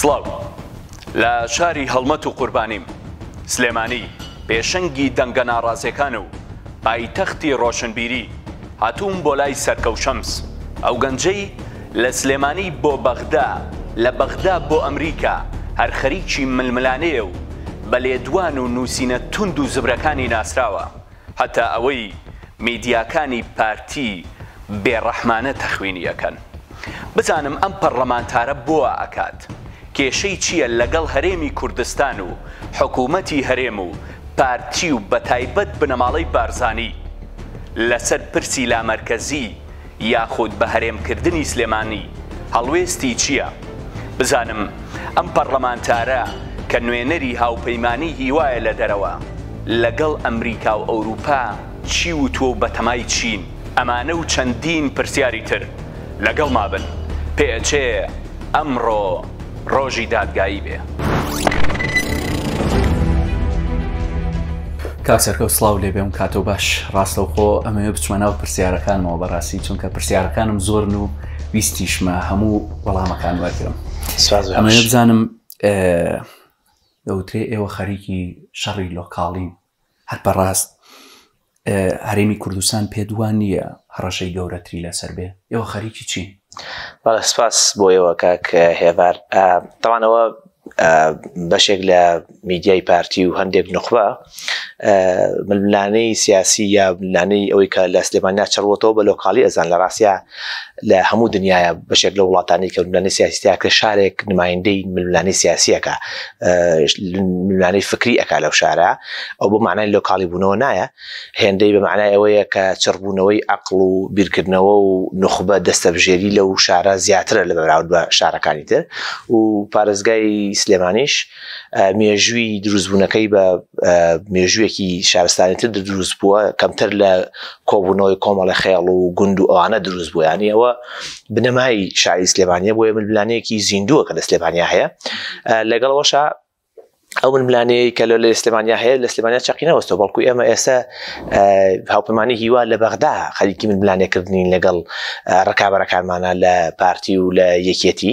سڵاو لە شاری هەڵمەت و قوربانیم سلێمانی پێشەنگی دەنگە ناڕازیەکان و پایتەختی ڕۆشنبیری هاتووم بۆ لای سەرکەوشەمس ئەو گەنجەی لە سلێمانی بۆ بەغدا، لە بەغدا بۆ ئەمریکا، هەر خەریکی ململانێیە و بە لێدوان و نووسینە توند و زبرەکانی ناسراوە، هەتا ئەوەی میدیاکانی پارتی بێڕەحمانە تەخوینی ئەکەن. بزانم ئەم پەڕڵەمانتارە بۆ وا ئەکات؟ کێشەی چییە لەگەڵ هەرێمی کوردستان و حکوومەتی هەرێم و پارتی و بەتایبەت بنەماڵەی بارزانی لەسەر پرسی لامەرکەزی، یاخود بە هەرێم کردنی سلێمانی هەڵوێستی چیە؟ بزانم ئەم پەڕلەمانتارە کە نوێنەری هاوپەیمانی هیوایە لە دەرەوە لەگەڵ ئەمریکا و ئەوروپا چی وتوە و بەتەمای چین؟ ئەمانە و چەندین پرسیاری تر لەگەڵما بن پئچێ ئەمڕۆ. ڕۆژی دادگایی بێ. کاک سەرکەوت سڵاو لێ بێم کاتەوە باش ڕاستەوخۆ ئەمەوێ بچمە ناو پرسیارەکانمەوە بەڕاستی چونکە پرسیارەکانم زۆرن و ویستیشمە هەموو وەڵامەکان وەرگرم ئەمەوێ بزانم دەوترێ ئێوە خەریکی شەڕی لۆکاڵین هەر بەڕاست هەرێمی کوردستان پێت وا نییە هەڕەشەی گەورەتری لەسەر بێ ئێوە خەریکی چین بەڵێ سپاس بۆ ئێوە کاک هێڤار تاوانەوە بەشێک لە میدیای پارتی و هەندێک نخبە ململانەی سیاسی یا ملانەی ئەوەی کە لە سلێمان ناچڕوەتەوە بە لۆکاڵی ئەزان لە ڕاستە لە هەموو دنیاە بەشێک لە وڵاتانی کە ملانی سیاسیتیاکە شارێک نمایندەی ملانی سیاسیەکە ملانی فکری ئەک لەو شارە ئەو بۆ معنای لۆکاڵی بوونەوە نایە هێندەی بە معنای ئەوەیە کە چڕبوونەوەی ئەقل و بیرکردنەوە و نخبە دەستەبژێری لەو شارە زیاترە لە بەراود بە شارەکانی تر و پارێزگای سلێمانیش مێژووی دروستبوونەکەی بە مێژوویەکی شارستانیتر دروست بووە کەمتر لە کۆبوونەوەی کۆمەڵە خێڵ و گوند و ئەوانە دروست بوو ینی ئەوە بنەمای شاری سلێمانە بۆیە ململانەیەکی زیندووە کە لە سلێمانیا هەیە لەگەڵەوەشە ئەو ململانەیە کە لە سلێمانیا هەیە لە سلێمانیا چقی نەوەستەوە بەڵکو ئێمە ئێستا هاوپەمانی هیوا لە بەغدا خەریکی ململانێکردنین لەگەڵ ڕکابەرەکانمانە لە پارتی و لە یەکێتی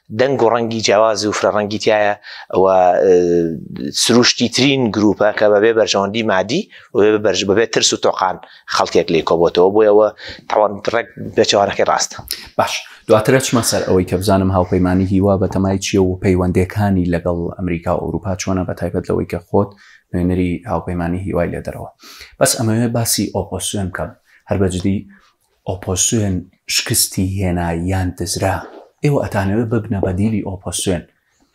دەنگ و ڕەنگی جیاواز و فرە ڕەنگی تایە و سروشتی ترین گروپە کە بەبێ بەرژەوەندی مادی بەرژ بەبێت ترس و تۆقان خەڵکێک لی کۆبتەوە بۆ ئەوە تاوان ڕێک بێچوانەکەی ڕاستە باش دواترە چمە سەر ئەوەی کە بزانم هاوپەیمانانی هیوا بە تەمای چیە و پەیوەندەکانی لەگەڵ ئەمریکا و ئەوروپا چۆنە بە تایبەت لەوەی کە خۆت نوێنەری هاوپەیمانانی هیوای لێ دەرەوە بەس ئەمەوێ باسی ئۆپۆسیۆن بکەم هەر بەجدی ئۆپۆسیۆن شکستی هێنا یان دزرا ئێوە ئەتانەوێ ببنە بەدیلی ئۆپۆسیۆن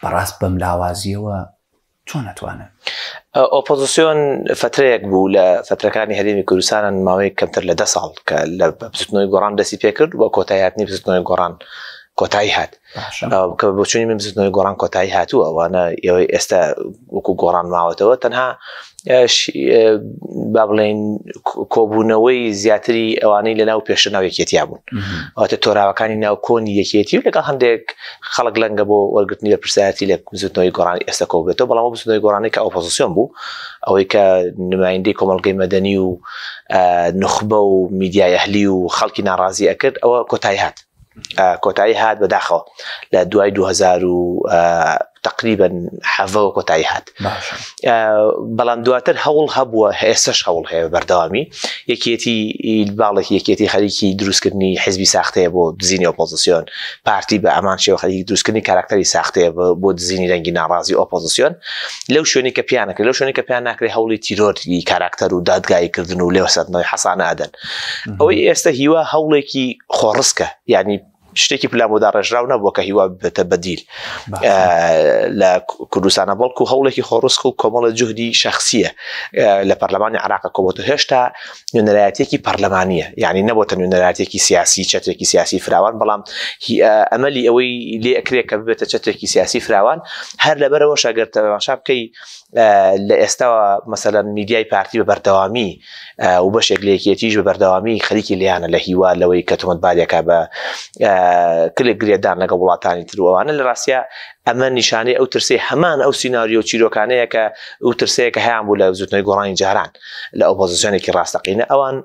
بەڕاست بەم لاوازیەوە چۆن ئەتوانن ئۆپۆزیسیۆن فترەیەک بوو لە فترەکانی هەرێمی کوردستانن ماوەی کەمتر لە ده ساڵ کە لە بزنەوەی گۆڕان دەستی پێکرد و کۆتایاتنی بزنەوەی گۆڕان کۆتایی هات کە بۆچوونی من بزنەوەی گۆڕان کۆتایی هاتوو ئەوانە ئێوەی ئێستا وەکو گۆڕان ماوەتەوە تەنها با بڵێن کۆبوونەوەی زیاتری ئەوانەی لە ناو پێشە ناو یەکێتیا بوون ئەوتە تۆراوەکانی ناو کۆنی یەکێتی و لەگە هەندێک خەڵک لەنگە بۆ وەرگرتنی لە پرسیاتی لە بزنەوەی گۆڕان ئێستا کۆبێتەوە بەڵام بزنەوەی گۆڕانی کە ئۆپۆزیسیۆن بوو ئەوەی کە نمایندی کۆمەلگەی مەدەنی و نخبە و میدیای ئەهلی و خەڵکی ناڕازی ئەکرد ئەوە کۆتایی هات کۆتایی هات بەداخەوە لە دوای 2000 و تقریبن حەڤەوە کۆتایی هات بەڵام دواتر هەوڵ هەبووە هێسش هەوڵ هەیە بەردەوامی یەکێتی باڵێکی یەکێتی خەریکی دروستکردنی حزبی ساختەیە بۆ دزینی ئۆپۆزیسیۆن پارتی بە ئەمان شێوە خەریکی دروستکردنی کاراکتەری ساختەیە بۆ دزینی رەنگی ناڕازی ئۆپۆزیسیۆن لەو شوێنی کە پیانەکە لەو شوێنی کە پیان ناکرێت هەوڵی تیرۆری کاراکتەر و دادگاییکردن و لێوەسەرەوەی حەسانە ئەدەن ئەوەی ئێستا هیوا هەوڵێکی خۆڕسکە یعنی شتێکی پلامۆدا ڕێژراو نەبووە کە هیوا بێتە بەدیل لە کوردستانە بەڵکو هەوڵێکی خۆڕسک و کۆمەڵە جوهدی شخصیە لە پەرلەمانی عراقە کۆبەت و هێشتا نوێنەرایەتێکی پەرلەمانیە یعنی نەبووە نوێنەراتێکی سیاسی چەتێکی سیاسی فراوان بەڵام ئەمەلی ئەوەی لێکرێک کە ببێتە چەتێکی سیاسی فراوان هەر لەبەرەوە شاگەر تەماشا بکەی لە ئێستاوە مەسەلەن میدیای پارتی بە بەردەوامی و بەشێک لە یەکێتیش بە بەردەوامی خەریکی لیانە لە هیوا لەوەی کە تۆمەتبارێکە بە کلێک گرێدان لەگە وڵاتانی تروانە لە ڕاستە ئەمە نیشانەی ئەو ترسی هەمان ئەو سینناریۆ و چیرۆکانەیە کە ئەو ترسەیە کە هەیان بوو لە زوتنەوەی گۆڕانی جاران لە ئۆپۆزیسیۆنێکی ڕاستەقینە ئەوان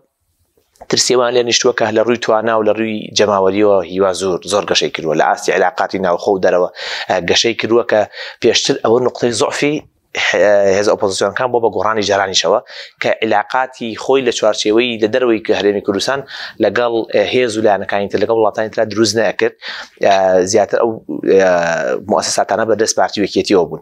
ترسێوان لێ نیشتووە کە لە ڕووی توانا و لە ڕووی جەماوەریەوە هیوا زۆر زۆر گەشەی کردووە لە ئاستی علااقاتی ناوخۆ و دەرەوە گەشەی کردووە کە پێشتر ئەوە نقطەی زۆفی هێز ئۆپۆزیسیۆنەکان بۆ بە گۆڕانی جارانیشەوە کە علااقاتی خۆی لە چوارچێوەی لە دەروی کە هەرێمی کوردستان لەگەڵ هێز و لایەنەکانی تر لەگەڵ وڵاتانی تررا دروست نەکرد زیاتر ئەو مؤسساتانە بەدەست پارتی وەکێتیەوە بوون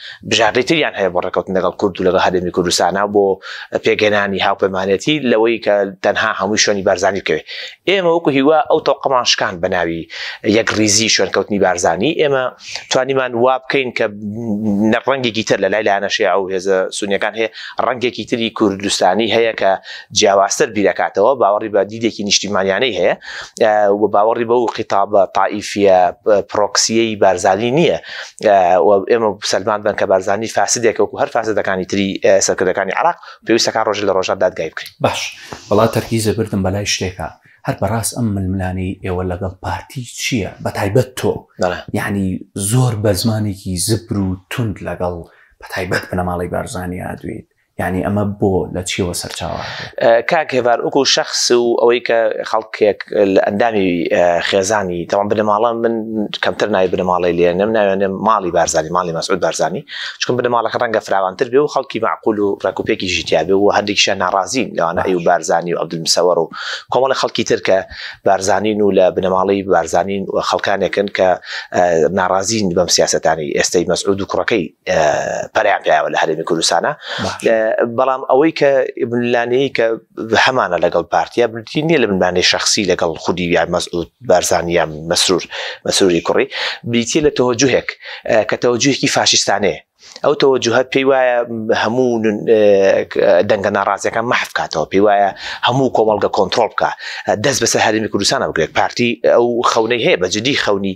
بژاردەی تریان هەیە بۆ ڕێکەوتن لەگەڵ کورد و لەگەڵ هەرێمی کوردستان و بۆ پێکهێنانی هاوپەیمانێتی لەوەی کە تەنها هەمووی شوێنی بارزانی بکەوێت ئێمە وەکو هیوا ئەو تەوقەمان شکان بە ناوی یەک ریزی شوێنکەوتنی بارزانی ئێمە توانیمان وا بکەین کە ڕەنگێکی تر لە لای لایەنەشێ ئەو هێزە سونیەکان هەیە ڕەنگێکی تری کوردستانی هەیە کە جیاوازتر بیرەکاتەوە باوەڕی بە دیدێکی نیشتیمانیانەی هەیە و باوەڕی بەو قیتابە تائیفە پرۆکسیەی بارزانی نییە ئێمە سەلمان بن کە بارزانانی فاسدێک وەکو هەر فاسدەکانی تری سەرکردەکانی عراق پێویستەکە ڕۆژ لە ڕۆژان دادگای بکرێت باش بەڵا تەرکیزە بردم بەلای شتێکە هەر بەڕاست ئەم ململانی ئێوە لەگەڵ پارتی چییە بە تایبەت تۆ یعنی زۆر بە زمانێکی زبر و تونند لەگەڵ بە تایبەت بنەماڵی بارزانانی ئادوێت یعنی ئەمە بۆ لە چیەوە سەرچاوە کاک هێوار ئوکو شخص و ئەوەی کە خەڵکێک لە ئەندامی خێزانی تەوان بنەماڵە من کەمتر نای بنەماڵی لێ نم ناوێنێ ماڵی بارزانانی ماڵی مەسعود بارزانانی چکم بنەماڵەکە ڕەنگە فراوانتر بێ و خەڵکی معقول و ڕێکوپێکی ژیتیابێ و هەردێکیشیان ناڕازین لەوانە ئەی و بارزانانی و عبدمسەوەڕ و کۆمەڵی خەڵکی ترکە بارزانین و لە بنەماڵی بارزانین و خەڵکانێکن کە ناڕازین بەم سیاستانی ئێستای مەسعود و کوڕەکەی پەرەیان پیاوە لە هەرێمی کوردستانە بەڵام ئەوەی کە بنلانەیە کە هەمانە لەگەڵ پارتیا بنتی نیە لە بنانەی شخصی لەگەڵ خودی یا مەسعود بارزانیا مەسرور مەسروری کوڕی بریتە لە تەوەجوهێک کە تەوەجوهێکی فاشستانێ ئەو تەوەجوهە پێی وایە هەموو دەنگە ناڕازەکان مەحف کاتەوە پێی وایە هەموو کۆمەڵگە کۆنتترۆل بکە دەست بەسەر هەرمی کوردستانە بگرێت پارتی ئەو خەونەی هەیە بە جدی خەونی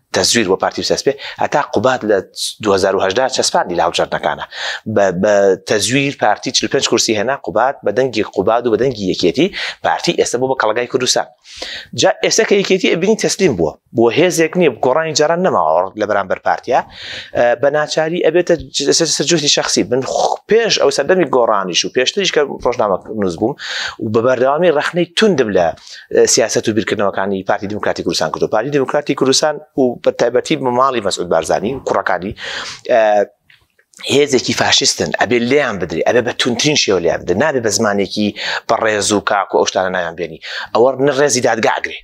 تەزویر بۆ پارتی بچەسپێ هەتا قوباد لە 2010 چەسپاندی لە هەڵبژاردنەکانە بە تەزویر پارتی 45 کورسی هێنا قوباد بە دەنگی قوباد و بە دەنگی یەکێتی پارتی ئێستا بۆ بە کەڵگای کوردستان جا ئێستا کە یەکێتی ئەبینی تەسلیم بووە بۆ هێزێک نییە گۆڕانی جاران نەماوە لە بەرامبەر پارتیا بە ناچاری ئەبێتە سەرجوهدی شخصی من پێش ئەو سەردەمی گۆڕانیش و پێشتریش کە ڕۆژنامە نووس بووم و بە بەردەوامی ڕخنەی توندم لە سیاست و بیرکردنەوەکانی پارتی دموکراتی کوردستان کردو پارتی دموکراتی کوردستان و بە تایبەتی ماڵی مەسعود بارزانانی کوڕەکانی هێزێکی فاشستن ئەبێ لێیان بدرێ ئەبێ بە تونترین شێوە لێیان بدە نابێ بە زمانێکی بە ڕێز و کاک و ئەوشتانە نایان بێنی ئەوە نە ڕێزی دادگاگرێ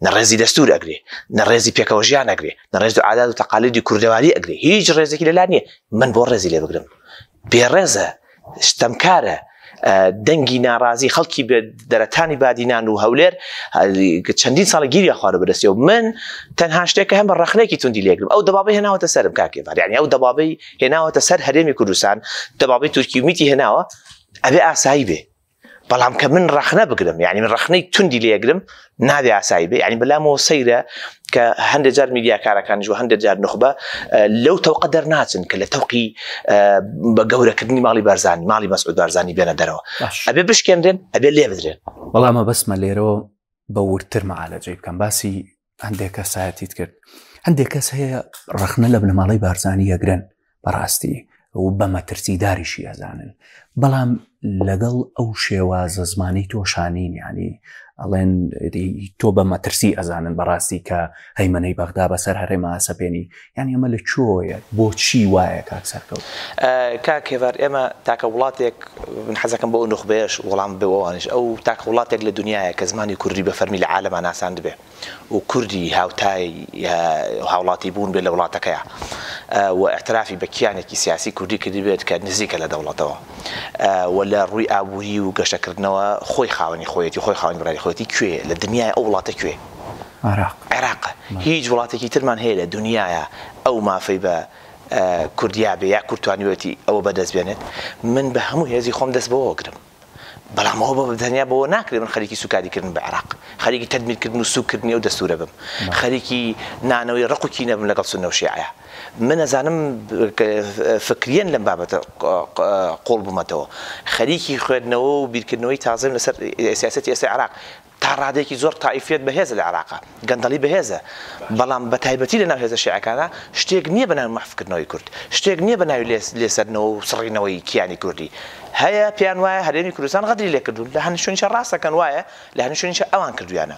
نە ڕێزی دەستور ئەگرێ نە ڕێزی پێکەوە ژیان ئەگرێ نە ڕێز و عادات و تەقالیدی کوردەواری ئەگرێ هیچ ڕێزێکی لەلا نییە من بۆ ڕێزی لێ بگرم بێڕێزە، ستەمکارە، دەنگی ناڕازی خەڵکی دەرەتانی بادینان و هەولێر چەندین ساڵە گیری خوارە بەدەستێ و من تەنها شتێکە هەم بە ڕخنێکی توندی لێگرم ئەو دەبابی هێناوەتە سەرم کاکێبار یعنی ئەو دەبابی هێناوەتە سەر هەرێمی کوردستان دەبابی تورکی ومیتی هێناوە ئەبێ ئاسایی بێ بەڵام کە من ڕەخنە بگرم یعنی من ڕەخنەی توندی لێگرم نابێ ئاسایی بێ ینی بەلامەوە سەیرە کە هەندێ جار میدیاکارەکانیش و هەندێک جار نخبە لەو تەوقە دەرناچن کە لە تەوقی بە گەورەکردنی ماڵی بارزانانی ماڵی مەسعود بارزانانی بێنە دەرەوە ئەبێ بشکێنرێن ئەبێ لێ بدرێن بەڵامە بەسمە لێرەوە بە ورتر مەعالەجەی بکەم باسی هەندێک کەسایەتیت کرد هەندێک کەس هەیە ڕخنە لە بنەماڵی بارزانانی یەگرن بەڕاستی و بە مەترسیداریشی ئەزانن بەڵام لەگەڵ ئەو شێوازە زمانی تۆشانین ینی ئەڵێن تۆ بە مەترسی ئەزانن بەڕاستی کە هەیمەەی بەغدا بەسەر هەرێمە سەپێنی یانی ئەمە لە کوێوەیە بۆچی وایە کاک سەرکەوت؟ کاک هێڤارد ئێمە تاکە وڵاتێک من حەزەکەم بۆ ئەو نوخبەیەش وەڵام بێ ئەوانیش ئەو تاکە وڵاتێک لە دنیایە کە زمانی کوردی بە فەرمی لە عالەما ناساندبێ و کوردی هاوتای هاوڵاتی بوون بێ لە وڵاتەکەیە و ئەعترافی بە کیانێکی سیاسی کوردی کردی بێت کە نزیکە لە دەوڵەتەوە و لە ڕووی ئابووری و گەشەکردنەوە خۆی خاوەنی خۆیەتی خۆی خاوەنی بڕاری خۆیەتی کوێ لە دنیای ئەو وڵاتە کوێ عێراق. عێراق هیچ وڵاتێکی ترمان هەیە لە دونیایا ئەو مافەی بە کوردیا بێ یا کورد توانیوێتی ئەوە بە دەست بێنێت من بە هەموو هێزی خۆم دەست بەوە گرم بەڵام ئەوە بە تەنیا بەوە ناکرێ من خەریکی سوکاری کردن بە عێراق خەریکی تەدمیر کردن و سوک کردنی ئەو دەستورە بم خەریکی نانەوەی ڕق و کینە بم لەگەڵ سنە و شیعە من ئەزانم فکریەن لەم بابەتە قوڵ بمەتەوە خەریکی خوێندنەوە و بیرکردنەوەی تازەم لەسەر سیاسەتی ئێستا عێراق تا ڕادەیەکی زۆر تائیفیەت بەهێزە لە عێراق، گەندەڵی بەهێزە، بەڵام بە تایبەتی لە ناو هێزە شیعەکانا شتێک نییە بە ناوی مەحف کردنەوەی کورد، شتێک نییە بە ناوی لێسەدنەوە و سڕینەوەی کیانی کوردی. هەیە پێیان وایە هەرێمی کوردستان غەدری لێ کردوون، لە هەنی شوێنیشە ڕاست ئەکەن وایە، لە هەنی شوێنیشە ئەوان کردوویانە.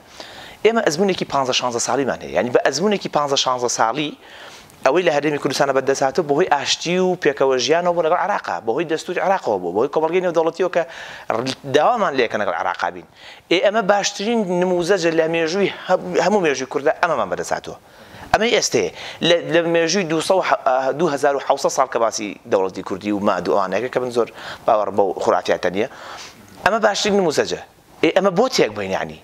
ئێمە ئەزموونێکی پانزە شانزە ساڵیمان هەیە، یانی بە ئەزموونێکی پانزە شانزە ساڵی ئەوەی لە هەرێمی کوردستانە بەدەست هاتووە بەهۆی ئاشتی و پێکەوەژیانەوە بووە لەگەڵ عێراقا، بەهۆی دەستووری عێراقەوە بووە، بەهۆی کۆمەڵگەی نێودەوڵەتییەوە کە داوامان لێکەن لەگەڵ عێراقا بین. ئێ ئەمە باشترین نمووزەجە لە مێژووی هەموو مێژووی کوردا ئەمەمان بەدەست هاتووە. ئەمەی ئێستەیە لە لە مێژووی دوو سەد و دوو هەزار و حەوت سەد ساڵ کە باسی دەوڵەتی کوردی و ماد و ئەوانە ئەکرێ کە من زۆر باوەڕم بەو خورافیاتە نییە، ئەمە باشترین نمووزەجە. ئێ ئەمە بۆ تێک بەین یەعنی؟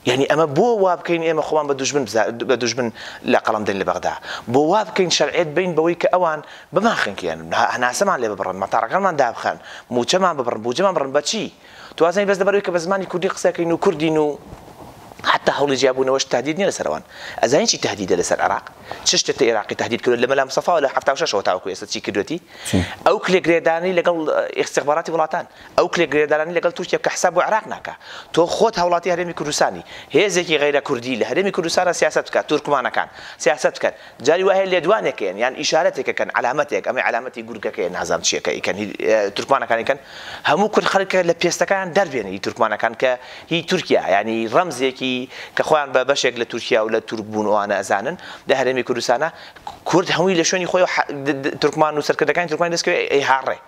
یانی ئەمە بۆ وابکەین ئێمە خۆمان بە دوژمن بە دوژمن لە قەڵەم دەین لە بەغدا؟ بۆ وابکەین شەرعیەت بەین بەوەی کە ئەوان بمانخنکێن، هەناسەمان لێ ببڕن، مەتاڕەکانمان دابخەن، مووچەمان ببڕن، بووجەمان ببڕن، بە چی؟ تۆ وازانی بەس لەبەر ئەوەی کە بە زمانی کوردی قسە ئەکەین و کوردین و حەتتا هەوڵی جیابوونەوەش تەهدید نیە لەسەر ئەوان. ئەزانی چی تەهدیدە لەسەر عێراق؟ چ شتێ ئێراقی تەهدید کردووە لە مەلا مستەفاوە لە حەفتا و شەش ەوە تاوەکو ئێستا چی کردووەتی؟ ئەو کلێک لێدانەی لەگەڵ ئیستیخباراتی وڵاتان. ئەو کرێ گرێدانانی لەگەڵ تورکیا بکە حساب بۆ عێراق ناکا تۆ خۆت هاوڵاتی هەرێمی کوردستانی هێزێکی غەیرە کوردی لە هەرێمی کوردستانا سیاسەت بکە تورکمانەکان سیاسەت بکەن جاری وا هەیە لێدوانێک کەن یان ئیشارەتێک کەن عەلامەتێک ئەمەی عەلامەتی گورگەکەیە نازانم چیە کە ئیکەن هی تورکمانەکان ئیکەن هەموو کورد خەرکە لە پێستەکان دەربێنی هی تورکمانەکان کە هی تورکیا یانی ڕەمزێکی کە خۆیان بە بەشێک لە تورکیا و لە تورک بوون ئەوانە ئەزانن لە هەرێمی کوردستانا کورد هەمووی لە شوێنی خۆی تورکمان و سەرکردەکانی تورکمانی دەستکەوێ ئەیهاڕێ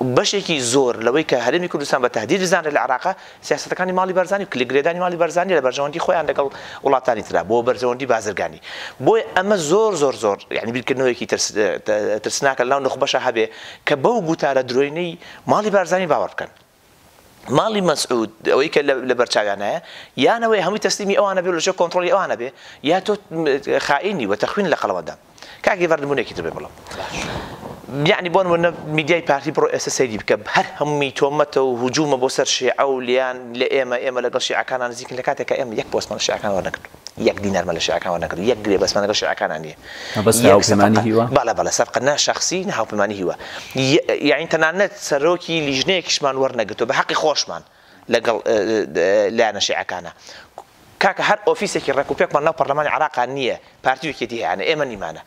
بەشێکی زۆر لەوەی کە هەرێمی کوردستان بە تەهدید بزانرێت لە عێراقە، سیاسەتەکانی ماڵی بەرزانی و کلکگرێدانی ماڵی بەرزانییە لە بەرژەوەندی خۆیان لەگەڵ وڵاتانی ترا بۆ بەرژەوەندی بازرگانی. بۆیە ئەمە زۆر زۆر زۆر یانی بیرکردنەوەیەکی ترس ترسناکە لەناو نوخبەشا هەبێ کە بەو گوتارە درۆینەی ماڵی بارزانی باوەڕ بکەن. ماڵی مەسعود ئەوەی کە لە بەرچاویانایە یانەوەی هەمووی تەسلیمی ئەوانە بێ لەژێ کۆنتترۆلی ئەوانە بێ یا تۆ خائینی وە تەخوین لە قەڵەوەدا کاکی بەردبوونێکی دەبێ بڵم یعنی بۆن منە میدیای پارتی بڕۆ ئێستا سەیری بکە هەر هەمووی تۆمەتە و هجوومە بۆ سەر شێعە و لیان لە ئێمە ئێمە لەگەڵ شیعەکانان نزیکن لە کاتێکە ئێمە یەک پۆستمان شیعەکان وەرنەگرتووە یەک دینارمان لە شیعەکان وەرنەگرتووە، یەک گرێبەستمان لەگەڵ شیعەکانان نییە. مەبەست یەک هاوپەیمانی سەفقە، هیوا؟ بەڵێ بەڵێ سەفقە نە شەخسی نە هاوپەیمانی هیوا. یاعنی تەنانەت سەرۆکی لیژنەیەکیشمان وەرنەگرتووە بە حەقی خۆشمان لەگەڵ لایەنە شیعەکانا. کاکە هەر ئۆفیسێکی ڕێکوپێکمان ناو پەڕلەمانی عێڕاقا نییە، پارتی و یەکێتی هەیانە، ئێمە نیمانە.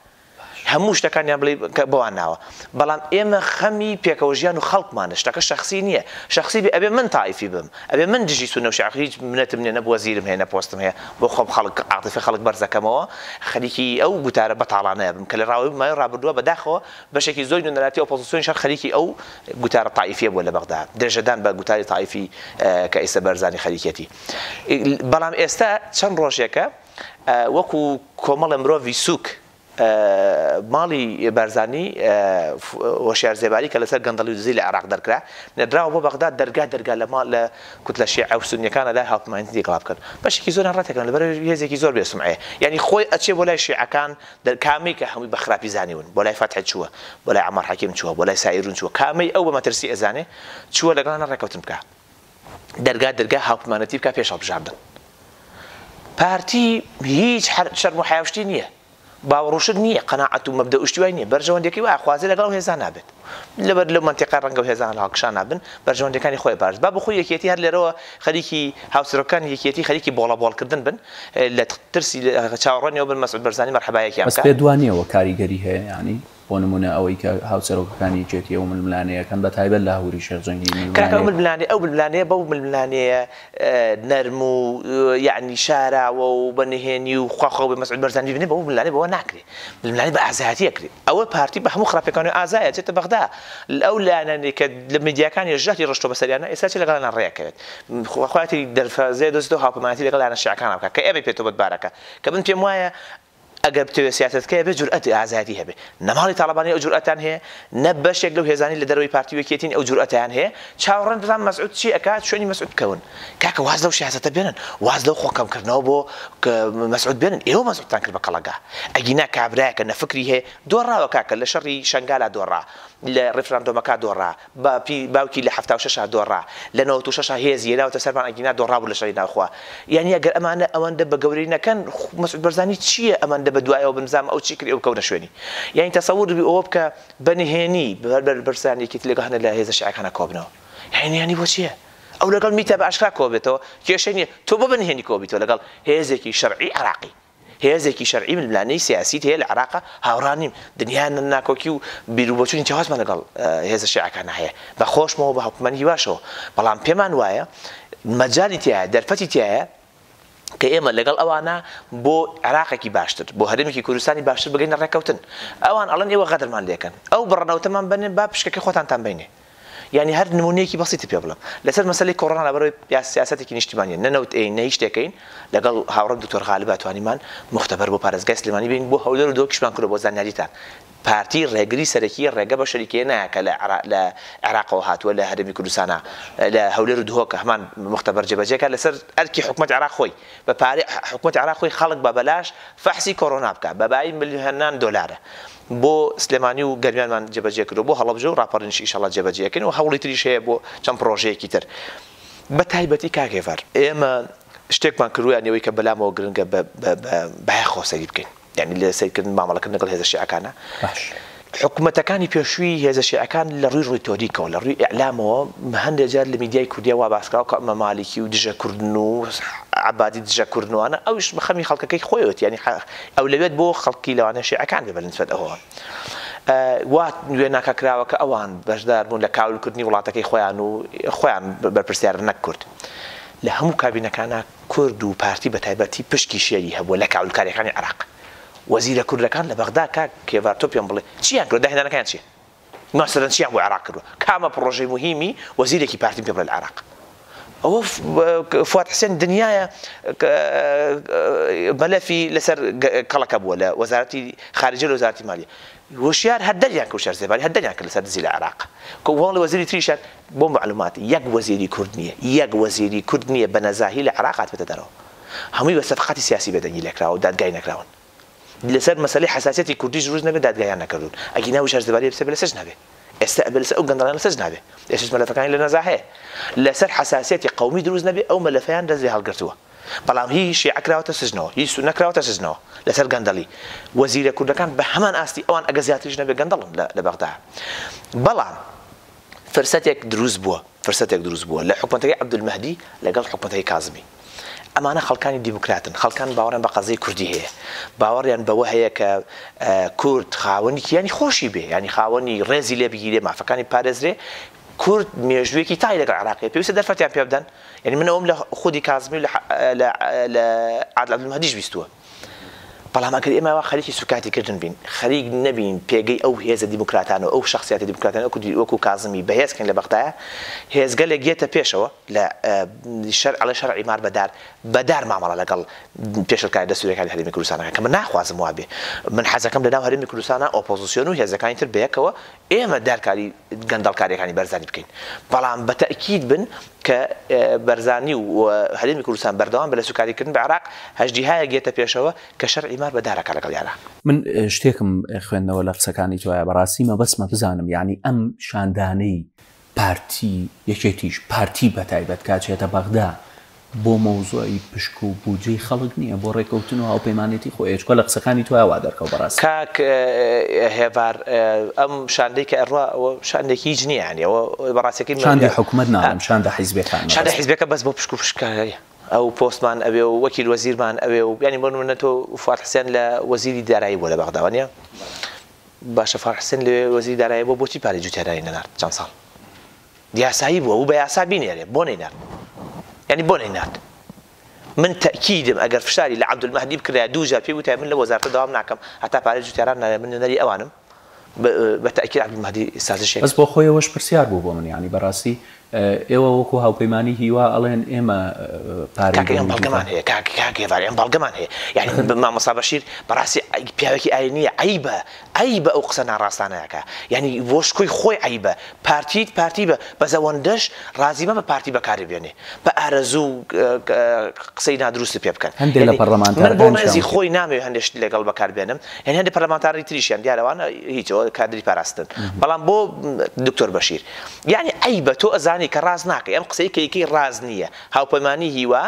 هەموو شتەکانیان بڵێی کە بەوان ناوە بەڵام ئێمە خەمی پێکەوە ژیان و خەڵکمانە شتەکە شەخسی نییە شەخسی بێ ئەبێ من تایفی بم ئەبێ من دژی سونە و شیعە هیچ منەتم نییە نە وەزیرم هەیە نە پۆستم هەیە بۆ خۆم خەڵک عاتیفی خەڵک بەرز دەکەمەوە خەریکی ئەو گوتارە بەتاڵانەیە بم کە لە ڕاوەی ماوەی ڕابردووە بەداخەوە بەشێکی زۆری نوێنەرایەتی ئۆپۆزسیۆنیش هەر خەریکی ئەو گوتارە تایفییە بووە لە بەغدا درێژەدان بە گوتاری تایفی کە ئیستا بەرزانی خەریکیەتی بەڵام ئێستا چەند ڕۆژێکە وەکو کۆمەڵە مرۆڤی سوک ماڵی بارزانی هۆشیار زێباری کە لەسەر گەندەڵی و دزی لە عێراق دەرکرا نەدراوە بۆ بەغداد دەرگا دەرگا لە ماڵ لە کوتلە شیعە و سونیەکانە لای هاوپەیمانێتی تێکەڵا بکەن بەشێکی زۆریان ڕەتەکەن لەبەر هێزێکی زۆر بێ سومعەیە یانی خۆی ئەچێ بۆ لای شیعەکان دەر کامەی کە هەمووی بە خراپی زانیون بۆ لای فەتح چووە بۆ لای عەمار حەکیم چووە بۆ لای سائیرون چووە کامەی ئەو بە مەترسی ئەزانێ چووە لەگەڵانە ڕێکەوتن بکا دەرگا دەرگا هاوپیمانەتی بکا پێش هەڵبژاردن پارتی هیچ شەرم و حیاشتی نییە باوەڕوشت نییە قەنەعەت و مەبدە شتیوای نییە بەرژەوەندەکەی و ئاخوازی لەگەڵ هێزا نابێت لەبەر لەو منتیقا ڕەنگە و هێزان هەڵکشان نابن بەرژەوەندەکانی خۆی بارز با بخۆی یەکێتی هەر لێرەوە خەریکی هاوسەرۆکان یەکێتی خەریکی بۆڵە بۆڵکردن بن لە ترسی چاوەڕۆنیەوە بن مەسعود بەرزانی مەرحەبایەکیان بەس پێ دوانیەوە کاریگەری هەیە ینی بۆ نموونە ئەوەی کە هاوسەرۆکەکانی یەکێتی ئەو ململانێیەکەن بە تایبەت لاهوری شێخ جەنگی کاکە ئەو ململانێیەکە. ململانێ ئەو ململانێیە بەو ململانێیە نەرم و یەعنی شاراوە و بە نهێنی و خوا خۆ بێ مەسعود بەرزانی ببینێ بەو ململانێ بەوە ناکرێ ململانێ بە ئازایەتی ئەکرێ ئەوە پارتی بە هەموو خراپیەکانۆ ئازایە ئەچێتە بەغدا ئەو لایەنانەی کە لە میدیاکانیە ژەهری ڕشتوە بەسەریانا ئێستا چێ لەگەڵیانا ڕێ ئەکەوێت خوا خوایەتی دەرفەزێ دۆزێتەوە هاوپەیمانێتی لەگەڵ لایەنە شیعەکانا بکا کە ئێمەی پێێتەوە بەدبارەکە کە من پێم وایە ئەگەر بتەوێت سیاسەتکە هەبێت جورئەت ئازایەتی هەبێت نە ماڵی تاڵەبانی ئەو جورئەتان هەیە نە بەشێک لەو هێزانی لە دەرەوەی پارتی و یەکێتین ئەو جورئەتەیان هەیە چاوەڕێن بزان مەسعود چی ئەکات شوێنی مەسعود بکەون کاکە واز لەو سیاسەتە بێنن واز لەو خۆ کەم کردنەوە بۆ مەسعود بێنن ئێوە مەسعودتان کرد بە کەڵەگا ئەگینا کابرایەکە نە فکری هەیە دۆڕاوە کاکە لە شەڕی شەنگالا دۆڕا لە ڕیفراندۆمەکە دۆڕا باپی باوکی لە حەفتا و شەشا دۆڕا لە نەوەت و شەشا هێزی هێناوەتە سەرمان ئەگینا دۆڕابوو لە شەڕی ناوخوا یانی ئەگەر ئەمانە ئەوەندە بە گەورەی نەکەن خو مەسعود بەرزانی چییە ئەمەندە بە دوایەوە بن زامە ئەو چی کرد ئێوە بکەونە شوێنی یانی تەسەور بی ئەوە بکە بە نهێنی بە بەر بەرزان یەکێتی لەگەڵ هەنە لە هێزە شیعەکانا کۆبنەوە یانی نهێنی بۆ چییە ئەو لەگەڵ میتە بە ئاشکرا کۆبێتەوە کێشەی نییە تۆ بۆ بە نهێنی کۆبیتەوە لەگەڵ هێزێکی شەرعی عێراقی. هێزێکی شەرعی ململانێی سیاسیت هەیە لە عێراقا هاوڕا نیم دنیا ناکۆکی و بیروبۆچونی جیاوازمان لەگەڵ هێزە شیعەکانا هەیە بە خۆشمەوە بە هاوپەیمانی هیواشەوە بەڵام پێمان وایە مەجالی تیایە دەرفەتی تیایە کە ئێمە لەگەڵ ئەوانە بۆ عێراقێکی باشتر بۆ هەرێمێکی کوردستانی باشتر بگەینە ڕێککەوتن ئەوان ئەڵەن ئێوە غەدرمان لێکەن ئەو بڕەنەوتەمان بەنێن با پشکەکەی خۆتانتان بینێ یانی هەر نموونەیەکی بەسیتی پێ بڵێم لەسەر مەسەلەی کۆڕۆنا لەبەرەوەی سیاسەتێکی نیشتیمانیە نە نەوت ئەیین نە هیچ شتێک ئەیین لەگەڵ هاوڕێم دکتۆر غالبا توانیمان موختەبەر بۆ پارێزگای سلێمانی بێین بۆ هەولێر و دۆکیشمان کردوە بۆ زانیاریتان پارتی ڕێگری سەرەکیە ڕێگە بە شەریکەیە نایە کە لە عێراقەوە هاتووە لە هەرێمی کوردستانا لە هەولێر و دهۆکە هەمان موختەبەر جێبەجێکە لەسەر ئەرکی حکومەت عێراق خۆی بە پارەی حکومەت عێراق خۆی خەڵک بە بەلاش فەحسی کۆرۆنا بکا بە بایی ملیۆنان دۆلارە بۆ سلێمانی و گەرمیانمان جێبەجێ کردووە بۆ هەڵەبجە و ڕاپەڕینش ئیشەڵا جێبەجێ ئەکەین و هەوڵی تریش هەیە بۆ چەند پڕۆژەیەکی تر بە تایبەتی کاک هێڤار ئێمە شتێکمان کردووە یانی ئەوەی کە بەلامەوە گرنگە بە بایەخەوە سەیری بکەین یانی لە سەیرکردن مامەڵەکردن لەگەڵ هێزە شیعەکانە باش حکومەتەکانی پێشووی هێزە شیعەکان لە ڕووی ڕیتۆریکەوە لە ڕووی ئیعلامەوە هەندێک جار لە میدیای کوردیا وا باس کراوە کە ئەمە مالیکی و دژە کوردن و عەبادی دژە کوردن و ئەوانە ئەویش بە خەمی خەڵکەکەی خۆیەتی یانی ئەو لەوێت بۆ خەڵکی لەوانە شێعەکان بێ بەلن سوێد ئەوە وا وێناکە کراوە کە ئەوان بەشدار بوون لە کاولکردنی وڵاتەکەی خۆیان و خۆیان بەرپرسیار نەک کورد لە هەموو کابینەکانە کورد و پارتی بە تایبەتی پشکی شێری هەبووە لە کاولکاریەکانی عراق وەزیرە کوردەکان لە بەغدا کاک کێڤار تۆ پێم بڵێ چیان کرد داهێنانەکەیان چیە ماسەرەن چیان بۆ عێراق کردوە کامە پڕۆژەی موهیمی وەزیرێکی پارتیم پێ بڵێ لە عێراق ئەوە فواد حسێن دنیایە مەلەفی لەسەر کەڵەکە بووە لە وەزارەتی خارجە لە وەزارەتی مالیە وشیار هەر دەریان کە شار زێباری هەر دەریان کە لەسەر دزی لە عێراق کۆمەڵی وەزیری تریشان بۆ معلوماتی یەک وەزیری کورد نییە یەک وەزیری کورد نییە بە نەزاهی لە عێراق هاتبێتە دەرەوە هەمووی بە سەفقاتی سیاسی بێدەنگی لێکراوە و دادگای نەکراون لەسەر مەسەلەی حساسیەتی کوردیش روز نەبێ دادگایان نەکردون ئەگینا وشار زبالی بسە بە لەسەر نابێ ئێستا ئەبێ لەسەر ئەو گەندەڵیان لەسەر نابێ ئێسش مەلەفەکانی لە نەزا هەیە لەسەر حساسیەتی قومی دروست نەبێ ئەو مەلەفەیان دەست لێ هەڵگرتووە بەڵام هی شیعە کراوەتە سجنەوە هی سونە کراوەتە سجنەوە لەسەر گەندەڵی وەزیرە کوردەکان بە هەمان ئاستی ئەوان ئەگە زیاتریش نەبێ گەندەڵن لە بەغدا بەڵام فرسەتێک دروست بووە فرسەتێک دروست بووە لە حکومەتەکەی عەبدولمەهدی لەگەڵ حکومەتەکەی کازمی ئەمانە خەڵکانی دیموکراتن خەڵکان باوەڕیان بە قەزیەی کوردی هەیە باوەڕیان بەوە هەیە کە کورد خاوەنی کیانی خۆشی بێ یانی خاوەنی ڕێزی لێ بگیرێ مافەکانی پارێزرێ کورد مێژوویەکی تای لەگەڵ عێراقی پێویستە دەرفەتیان پێ بدەن یانی من ئەوەم لە خودی کازمی و لە عادل عەبدولمەهدیش بیستووە. بەڵام ئەگەر ئێمە ئەوە خەریکی سوکایەتی کردن بین، خەریک نەبین پێگەی ئەو هێزە دیموکراتانە و ئەو شەخسیاتە دیموکراتانە وەکو وەکو کازمی بەهێز کەین لە بەغدایە، هێزگەلێک یێتە پێشەوە لە شەر ئەڵێ شەرعی مار بە دار بە دار مامەڵە لەگەڵ پێشلکارە دەستوریەکانی هەرێمی کوردستان ئەکا کە من ناخوازم وابێ، من حەزەکەم لە ناو هەرێمی کوردستانا ئۆپۆزسیۆن و هێزەکانی تر بەیەکەوە ئێمە دارکاری گەندەڵکاریەکانی بەرزانی بکەین، بەڵام بە تەئکید بن کە بەرزانی و هەرێمی کوردستان بەردەوام بە لە سوکاری کردن بە عێراق، هەژدیهایەک دێتە پێشەوە کە شەرعی مار بە دارەکە لەگەڵیانا. من شتێکم خوێندەوە لە قسەکانی تۆیا بەڕاستی مەبەستمە بزانم یانی ئەم شاندانەی پارتی یەکێتیش پارتی بەتایبەت کە ئەچێتە بەغدا بۆ مەوزوعی پشک و بودجەی خەڵک نیە بۆ ڕێکەوتن و هاوپەیمانێتی خۆیە چکە لە قسەکانی تۆیا وا دەرکەو بەڕاستی. کاک هێڤار ئەم شاندەی کە ئەڕوا ئەوە شاندێکی هیچ نیە یانی ئەوە بەڕاستەکەی شاندی حکومەت ناڵێم شاندە حیزبەکان شاندە حیزبەکە بەس بۆ پشک و پشککاری ئەو پۆستمان ئەوێ و وەکیل وەزیرمان ئەوێ و یانی بۆ نمونە تۆ فواد حسێن لە وەزیری دارایی بوە لە بەغدا وانیە باشە فان حسێن لەوێ وەزیری دارایی بوە بۆچی پارەی جوتیاداری نەنارد چەند ساڵ یاسایی بوە بو بە یاسا بینێرێ بۆ نەینارد یانی بۆ نەینارد من تەکیدم ئەگەر فشاری لە عەبدولمەهدی بکرایە دوو جار پێی وتای من لە وەزارەتە داوام ناکەم هەتا پارەی جوتیاران نایە من نوێنەری ئەوانم بە تەکید عەبدولمەهدی سازشێک بەس بۆخۆیەوەش پرسیار بوو بۆ من یانی بەراستی ئێوە وەکو هاوپەیمانی هیوا ئەڵێن ئێمە پارەی کاکە ئێمە بەڵگەمان هەیە کاک کاک هێڤار ئێمە بەڵگەمان هەیە یانی مامۆستا بەشیر بەڕاستی پیاوێکی ئاینیە عەیبە عەیبە ئەو قسە ناڕاستانە ئەکا یانی بۆ شکۆی خۆی عەیبە پارتیت پارتی بە بەس ئەوەندەش ڕازی مەبە پارتی بەکاری بێنێ بە ئارەزوو و قسەی نادروستت پێ بکەن هەندێ لە پەڕلەمانتارەکان من بۆ ڕێزی خۆی نامەوێ هەندێ شت لەگەڵ بەکار بێنم یانی هەندێ پەرلەمانتاری تریشیان دیارە ئەوانە هیچ ئەوە کادری پاراستن بەڵام بۆ دکتۆر بەشیر. یانی عەیبە تۆ ئەزانی کە ڕاست ناکەی ئەم قسەی کە یکەی ڕاست نییە هاوپەیمانی هیوا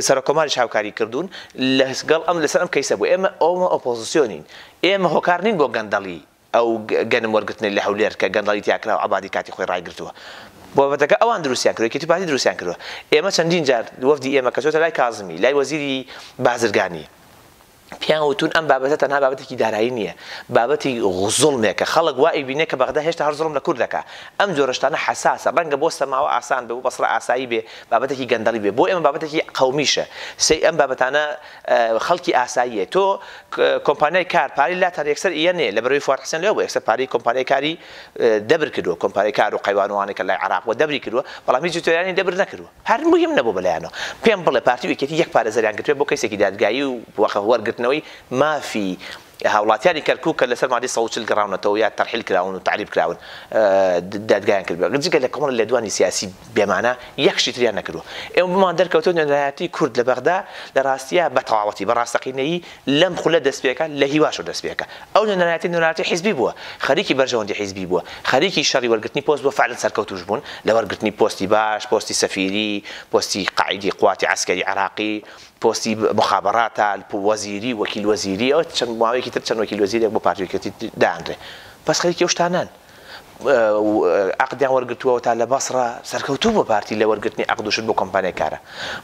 سەرۆک کۆماریش هاوکاری کردوون لەس گەڵ ئەم لەسەر ئەم کەیسە بوو ئێمە ئەومە ئۆپۆزسیۆنین ئێمە هۆکار نین بۆ گەندەڵی ئەو گەنم وەرگرتنی لە هەولێر کە گەندەڵی تیا کرا و عەبادی کاتی خۆی ڕایگرتووە بابەتەکە ئەوان دروستیان کردووە یەکێتی پارتی دروستیان کردووە ئێمە چەندین جار وەفدی ئێمە کە چۆتە لای کازمی لای وەزیری بازرگانی پێیان وتوون ئەم بابەتە تەنها بابەتێکی دارایی نییە، بابەتی زوڵمێکە، خەڵک وا ئەیبینێت کە بەغدا هێشتا هەر زوڵم لە کورد دەکات، ئەم جۆرە شتانە حەساسە، ڕەنگە بۆ سەماوە ئاسان بێ، بۆ بەسڕە ئاسایی بێ، بابەتێکی گەندەڵی بێ، بۆ ئێمە بابەتێکی قەومیشە، سەی ئەم بابەتانە خەڵکی ئاساییە، تۆ کۆمپانیای کار پارەی لاتان یەکسەر ئیە نێ، لەبەرەوەی فواد حسێن لەوێ بووە یەکسەر پارەی کۆمپانیای کاری دەبر کردووە، کۆمپانیای کار و قەیوان و ئەوانەی کە لای عێراق بووە دەبری کردووە، بەڵام هیچی تۆیانی دەبر نەکردووە. پارتی موهیم نەبوو بەلایانەوە پێم بڵێ پارتی و یەکێتی یەک پارێزەریان گرتبێ بۆ کەیسێکی دادگایی و وەرگرتنەوەی مافی هاوڵاتیانی کەرکوک کە لەسەر مادەی سەد و چل گەڕاونەتەوە یا تەرحیل کراون و تەعریب کراون دادگایان کردبێ جگە لە کۆمەڵە لێدوانی سیاسی بێمانا یەک شتی تریان نەکردووە ئێمە بۆمان دەرکەوتووە نوێنەرایەتی کورد لە بەغدا لە ڕاستیا بە تەواوەتی بە ڕاستەقینەیی لەم خولە دەستپێکە لە هیواشەوە دەستپێکە ئەو نوێنەرایەتی نوێنەراتی حیزبی بووە خەریکی بەرژەوەندی حیزبی بووە خەریکی شەڕی وەرگرتنی پۆست بووە فەعلەن سەرکەوتوش بوون لە وەرگرتنی پۆستی باش پۆستی سەفیری پۆستی قائیدی قواتی عەسکەری عێراقی پۆستی موخابەڕاتە وەزیری وەکیل وەزیری ئەوە چەند ماوەیەکی تر چەند وەکیل وەزیرێک بۆ پارتی یەکێتی دانرێ بەس خەریکی ئەو شتانەن عقدیان وەرگتووەوە تا لە بەسڕە سەرکەوتوو بۆ پارتی لە وەرگرتنی عقدوشت بۆ کۆمپانیکارە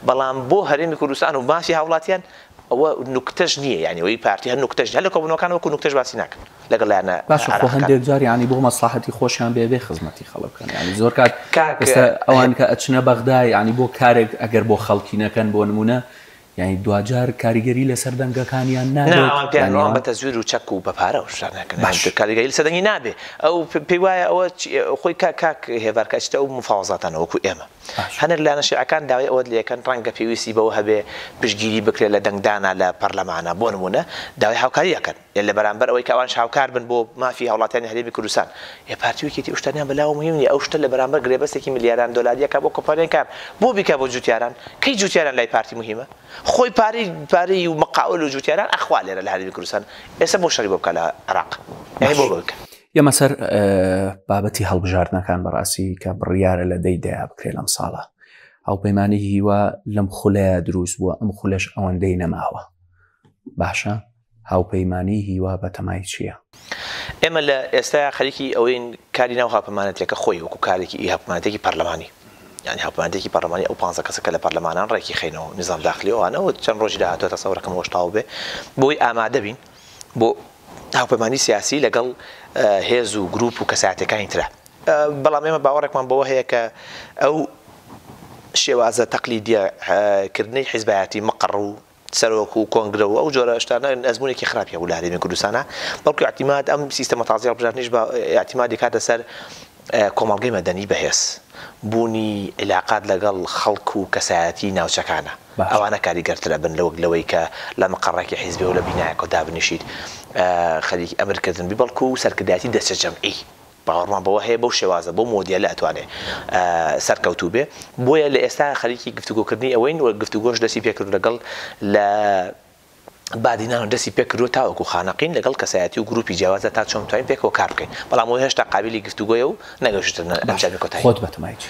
بەڵام بۆ هەرێمی کوردستان و مافی هاوڵاتیان ئەوە نوکتەش نیە یانی ئەوەی پارتی هەر نوکتەش هەر لە کۆبونەوەکان وەکو نوکتەش باسی ناکەن لەگەڵ لایەنە عێراقیەکان. باشە خۆ هەندێک جار یانی بۆ مەسڵەحەتی خۆشیان بێ ئەبێ خزمەتی خەڵک بکەن یانی زۆر کات ئێستا ئەوان کە ئەچنە بەغدا یانی بۆ کارێک ئەگەر بۆ خەڵکی نەکەن بۆ نمونە یانی دواجار کاریگەری لەسەر دەنگەکانیان نابێت؟ نا ئەوان پێیان وایە بە تەزویر و چەک و بە پارە و شتان ئەکەن باشە کاریگەری لەسەر دەنگی نابێ ئەو پێی وایە ئەوە خۆی کاک هێڤار کە ئەچیتە ئەو مفاوەزاتانە وەکو ئێمە هەنێک لایەنە شیعەکان داوای ئەوەت لێکەن ڕەنگە پێویستی بەوە هەبێ پشتگیری بکرێ لە دەنگدانا لە پەرلەمانا، بۆ نموونە داوای هاوکاری ئەکەن، ئێ لە بەرامبەر ئەوەی کە ئەوانیش هاوکار بن بۆ مافی هاوڵاتیانی هەرێمی کوردستان، ئێ پارتی و یەکێتی ئەو شتانەیان بە لاوە موهیم نیە، ئەو شتە لە بەرامبەر گرێبەستێکی ملیاران دۆلاری ئەکا بۆ کۆمپانیای کار، بۆ بیکا بۆ جووتیاران، کەی جووتیاران لای پارتی موهیمە؟ خۆی پارەی پارەی و مقاول و جووتیاران ئەخوا لێرە لە هەرێمی کوردستان، ئێستا بۆ شەڕی بۆ بکا لە عێراق؟ یانی بۆ بەوەی کە. یەمە سەر بابەتی هەڵبژاردنەکان بەڕاستی کە بڕیارە لە دەی دەیا بکرێت لەم ساڵە هاوپەیمانانی هیوا لەم خولەیە دروست بووە ئەم خولەش ئەوەندەی نەماوە باشە هاوپەیمانی هیوا بەتەمای چییە؟ ئێمە لە ئێستایا خەریکی ئەوەین کاری ناو هاپەمانەتەکە خۆی وەکو کارێکی ئی هاپمانەتێکی پەرلەمانی یانی هاپمانەتێکی پەرلەمانی ئەو پانزە کەسەکە لە پەرلەمانان ڕێکی خینەوە نظام داخلی ئەوانەوە چەند ڕۆژی داهاتوە تەسەورەکەم وەشتاو بێ بۆی ئامادەبین بۆ هاوپەیمانی سیاسی لەگەڵ هێز و گروپ و کەسایەتیەکانی ترە. بەڵام ئێمە باوەڕێکمان بەوە هەیە کە ئەو شێوازە تەقلیدیە کردنەی حیزبایەتی مقەڕ و سەرۆک و کۆنگرە و ئەو جۆرە شتانە ئەزمونێکی خراپی هەبوو لە هەرێمی کوردستانا بەڵکو ئیعتیماد ئەم سیستەمە تازەی هەڵبژاردنیش بە ئیعتیمادی کاتە سەر کۆمەڵگەی مەدەنی بەهێز بوونی عیلاقات لەگەڵ خەڵک و کەسایەتی ناوچەکانە ئەوانە کاریگەرتر ئەبن لەوەک لەوەی کە لە مقەڕێکی حیزبی و لە بینایەکەوە دابنیشیت خەریکی ئەمر کردن بی بەڵکو سەرکردایەتی دەچە جەمعی باوەڕمان بەوە هەیە بەو شێوازە بەو مۆدێلە ئەتوانێ سەرکەوتوو بێ بۆیە لە ئێستا خەریکی گفتوگۆ کردنی ئەوەین و گفتوگۆش دەستی پێ کردوو لەگەڵ لە بادینان و دەستی پێ کردووە تاوەکو خانەقین لەگەڵ کەسایەتی و گرووپی جیاوازدا تا چۆن بتوانین پێکەوە کار بکەین بەڵام ئەوە هێشتا قابیلی گفتوگۆیە و نەگەشتووتە ئەنجامی کۆتایی. خۆت بە تەمای چی؟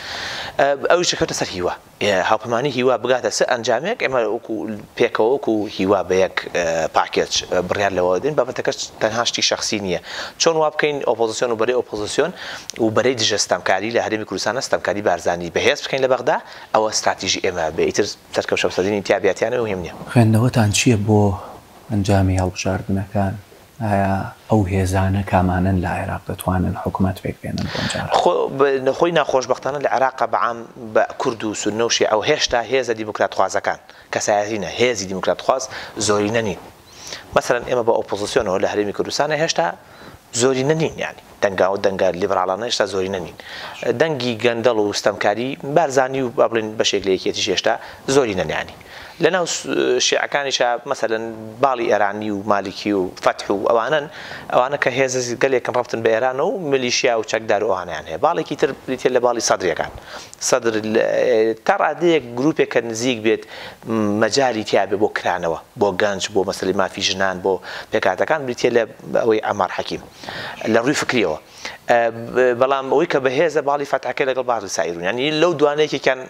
ئەویش کەوتە سەر هیوا هاوپەیمانی هیوا بگاتە چ ئەنجامێک ئێمە وەکو پێکەوە وەکو هیوا بە یەک پاکێج بڕیار لەوە دەدەین بابەتەکەش تەنها شتی شەخسی نییە چۆن وا بکەین ئۆپۆزسیۆن و بەرەی ئۆپۆزسیۆن و بەرەی دژە ستەمکاری لە هەرێمی کوردستان ستەمکاری بارزانی بەهێز بکەین لە بەغدا ئەوە ستراتیژی ئێمە بێ ئیتر تەرکەو شەمسەدینی تیا بیا تیا نەبێ موهیم نیە. خوێندنەوەتان چیە بۆ ئەنجامی هەڵبژاردنەکان؟ ئایا ئەو هێزانە کامانەن لە عێراق دەتوانن حکومەت پێک بێنن بۆ ئەمجارە؟ خۆ خۆی ناخۆشبەختانە لە عێراقا بە عام بە کورد و سوننە و شێعە و هێشتا هێزە دیموکراتخوازەکان، کەسایەتی نا، هێزی دیموکراتخواز زۆرینە نین. مەسەلەن ئێمە بە ئۆپۆزسیۆنەوە لە هەرێمی کوردستانە هێشتا زۆرینە نین یانی دەنگا و دەنگە لیبراڵانە هێشتا زۆرینە نین دەنگی گەندەڵ و ستەمکاری بارزانی و با بڵێن بەشێک لە یەکێتیش هێشتا زۆری نەنیانی لەناو شیعەکانیشا مەسەلەن باڵی ئێرانی و مالکی و فەتح و ئەوانن ئەوانە کە هێز گەلێکن ڕفتن بە ئێرانە و ملیشیا و چەکدار و ئەوانیان هەیە باڵێکی تر بریتە لە باڵی سەدرەکان سەدر، تا ڕادەیەک گروپێک کە نزیک بێت مەجالی تیا بێت بۆ کرانەوە، بۆ گەنج، بۆ مەسەلەی مافی ژنان، بۆ پێکهاتەکان بریتیە لە ئەوەی عەمار حەکیم لە ڕووی فکریەوە بەڵام ئەوەی کە بەهێزە باڵی فەتحەکەی لەگەڵ بازل سائیرون یانی لەو دوانە یەکێکیان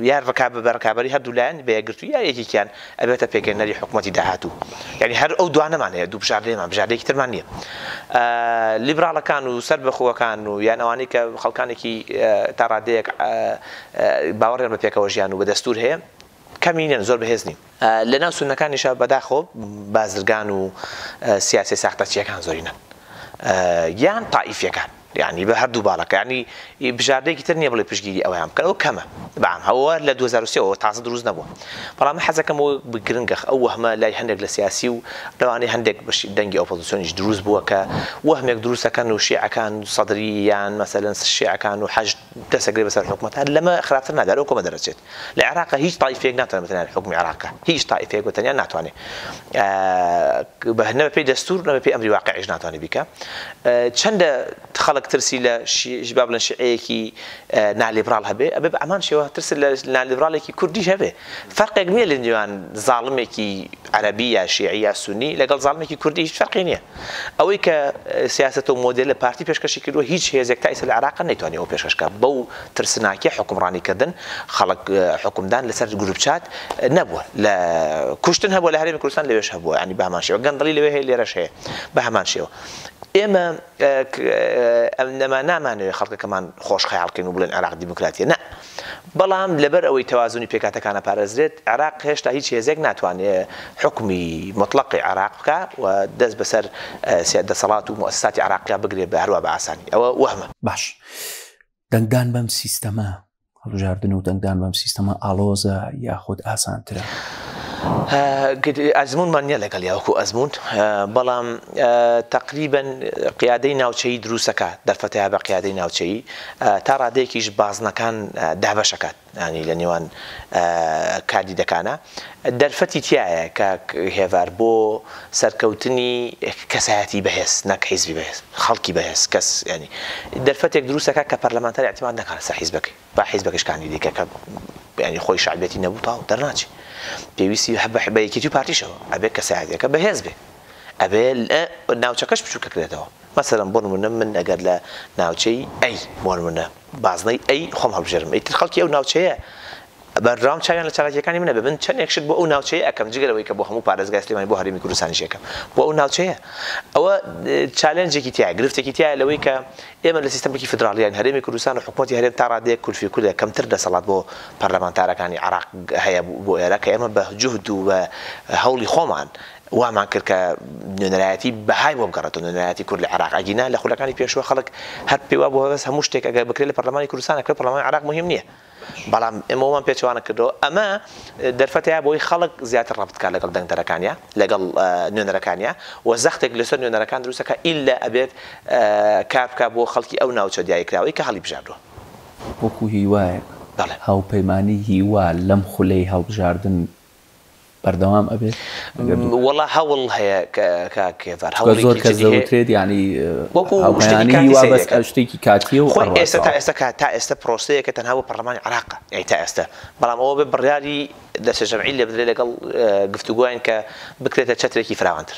یا ڕکابە بە ڕکابەری هەردوو لایەن بە یەکگرتووی یا یەکێکیان ئەبێتە پێکهێنەری حکومەتی داهاتوو یانی هەر ئەو دوانەمان هەیە دوو بژاردەیەمان بژاردەیەکی ترمان نییە لیبراڵەکان و سەر بەخۆەکان و یان ئەوانەی کە خەڵکانێکی تا ڕادەیەک باوەڕێن بە پێکەوە ژیان و بە دەستور هەیە کەمینەن زۆر بەهێز نین لە ناو سونەکانیشە بەداخۆ بازرگان و سیاسە ساختەچیەکان زۆرینەن یان تائیفیەکان یەعنی بە هەردوو باڵەکە یەعنی بژاردەیەکی تر نیە بڵێ پشتگیری ئەویان بکەن ئەوە کەمە بەام هەوە لە دوو هەزار و سێ وە تازە دروست نەبووە بەڵام من حەزەکەم ئەوە گرنگە ئەو وەهمە لای هەندێک لە سیاسی و لەوانەیە هەندێک بەشی دەنگی ئۆپۆزسیۆنیش دروست بووە کە وەهمێک دروستەکەن و شیعەکان سەدری یان مەسەلەن شیعەکان و حەشد دەسە گرێ بەسەر حوکمە تا لەمە خراپتر ناگا لەو کۆمە دەرەچێت لە عێراقە هیچ تایفێک ناتوانێت بە تەنیا حوکمی عێراقە هیچ تایفێک بە تەنیا ناتوانێت بە نە پێی دەستور نە پێی ئەمری واقعیش ناتوانێت بیکە چەندە خەڵک ترسی لە ژباب لە شعەیەکی نالیبرال هەبێ ئەبێ بە ئەمان شێوە ترس لە نالیبرالێکی کوردیش هەبێ فەرقێک نیە لەنێوان زاڵمێکی عەرەبی یا شیعی یا سونی لەگەڵ زاڵمێکی کوردی هیچ فەرقی نیە ئەوەی کە سیاسەت و مۆدێلە پارتی پێشکەشی کردوە هیچ هێزێک تا ئیستا لە عێراق نەیتوانی ئەوە پێشکەش کا بەو ترسناکیە حوکمڕانی کردن خەڵک حوکمدان لەسەر گروپ چات نەبوە لە کوشتن هەبوە لە هەرێمی کوردستان لەوێش هەبوە یانی بەهەمان شێوە گەندەڵی لەوێ هەیە لێرەش هەیە بەهەمان شێوە ئێمە ئەم نەما نامانەوێ خەڵکەکەمان خۆش خەیاڵکەین و بڵێن عێراق دیموکراتیە نە بەڵام لەبەر ئەوەی تەوازونی پێکهاتەکانە پارێزرێت، عێراق هێشتا هیچ هێزێک ناتوانێت حوکمی موتڵەقی عێراق بکا و دەست بەسەر دەسەڵات و موئەسساتی عێراقیا بگرێت بە هەروا بە ئاسانی. ئەوە وەهمە. باش. دەنگدان بەم سیستەمە، هەڵبژاردن و دەنگدان بەم سیستەمە ئاڵۆزە یاخود ئاسانترە؟ ئەزموونمان نییە لەگەڵیا وەکو ئەزموون، بەڵام تەقریبەن قیادەی ناوچەیی دروستەکا، دەرفەتەیا بە قیادەی ناوچەیی. تا ڕادەیەکیش بازنەکان دابەش ئەکات یانی لە نێوان کاندیدەکانا دەرفەتی تیایە کاک هێڤار بۆ سەرکەوتنی کەسایەتی بەهێز نەک حیزبی بەهێز خەڵکی بەهێز کەس یانی دەرفەتێک دروست ئەکات کە پەرلەمانتار ئیعتماد نەکات لەسەر حیزبەکەی با حیزبەکەش کاندیدی کە کە یانی خۆی شەعبیەتی نەبوو تاو دەرناچێ پێویستی هەبە بە یەکێتی و پارتیشەوە ئەبێ کەسایەتیەکە بەهێز بێ ئەبێ ناوچەکەش بچووکەکرێتەوە. مەسەلەن بۆ نموونە من ئەگەر لە ناوچەی ئەی بۆ نموونە بازنەی ئەی خۆم هەڵبژێرم ئیتر خەڵکی ئەو ناوچەیە بەرراوند چاویان لە چالاکییەکانی منە بێ من چەندێک شت بۆ ئەو ناوچەیە ئەکەم جگە لەوەی کە بۆ هەموو پارێزگای سلێمانی بۆ هەرێمی کوردستانیش ئەکەم بۆ ئەو ناوچەیە ئەوە چالێنجێکی تیایە گرفتێکی تیایە لەوەی کە ئێمە لە سیستەمێکی فیدراڵیین هەرێمی کوردستان و حکومەتی هەرێم تا ڕادەیەک کولفی کوردە کەمتر دەسەڵات بۆ پەرلەمانتارەکانی عێراق هەیە بۆ ئێرە کە ئێمە بە جوهد و بە هەوڵی خۆمان وامان کرد کە نوێنەرایەتی بەهای بۆ بگەڕێتەوە نوێنەرایەتی کورد لە عێراق ئەگینا لە خولەکانی پێشوە خەڵک هەر پێی وابوو هەبەس هەموو شتێک ئەگەر بکرێت لە پەرلەمانی کوردستان ئەکرێت پەرلەمانی عێراق موهیم نییە بەڵام ئێمە وەمان پێچەوانە کردەوە ئەمە دەرفەتەیە بۆی خەڵک زیاتر ڕەبت بکات لەگەڵ دەنگدەرەکانیا لەگەڵ نوێنەرەکانیا و زەختێک لەسەر نوێنەرەکان دروستەکە ئیلا ئەبێت کار بکات بۆ خەڵکی ئەو ناوچە دیاریکراوەی کە هەڵیبژاردووە. وەکو هیوایەک هاوپەیمانی هیوا لەم خولەی هەڵبژاردن بەردەوام ئەبێت؟ وەڵا هەوڵ هەیە کاک کێڤار هەوڵێکی جدی هەیە. زۆر کەس دەوترێت یانی هاوپەیمانی هیوا بەس شتێکی کاتییە و ئەڕوات. ئێستا تا ئێستا کە تا ئێستا پرۆسەیەکە تەنها بۆ پەڕلەمانی عێراقە یانی تا ئێستا بەڵام ئەوە بێت بڕیاری دەستەجەمعی لێ بدرێت لەگەڵ گفتوگۆیان کە بکرێتە چەترێکی فراوانتر.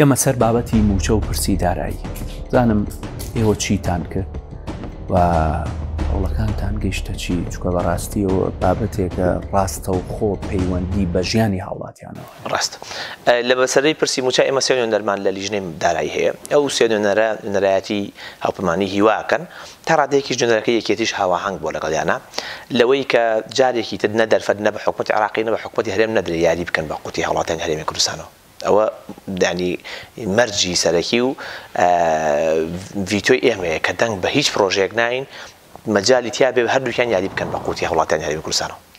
ئێمە سەر بابەتی موچە و پرسی دارایی زانم ئێوە چیتان کرد و هەوڵەکانتان گەیشتە چی چکە بەڕاستی و بابەتێکە ڕاستە و خۆ پەیوەندی بە ژیانی هاوڵاتیانەوە ڕاست لە بەسەرەی پرسی مووچە ئێمە سێ نوێنەرمان لە لیژنەی دارایی هەیە ئەو سێ نوێنەرە نوێنەرایەتی هاوپەیمانیی هیوا ئەکەن تا ڕادەیەکیش نوێنەرەکەی یەکێتیش هاوئاهەنگ بووە لەگەڵیانا لەوەی کە جارێکی تر نە دەرفەت نە بە حکومەتی عێراقی نە بە حکومەتی هەرێم نەدرێ یاری بکەن بە قوتی هاوڵاتیانی هەرێمی کوردستانەوە ئەوە یانی مەرجی سەرەکی و ڤیتۆی ئێمەیە کە دەنگ بە هیچ پڕۆژەیەک ناین مەجالی تیا بێ هەردووکیان یاری بکەن بە قورتی هەوڵاتیان هەرێمی کوردستانەوە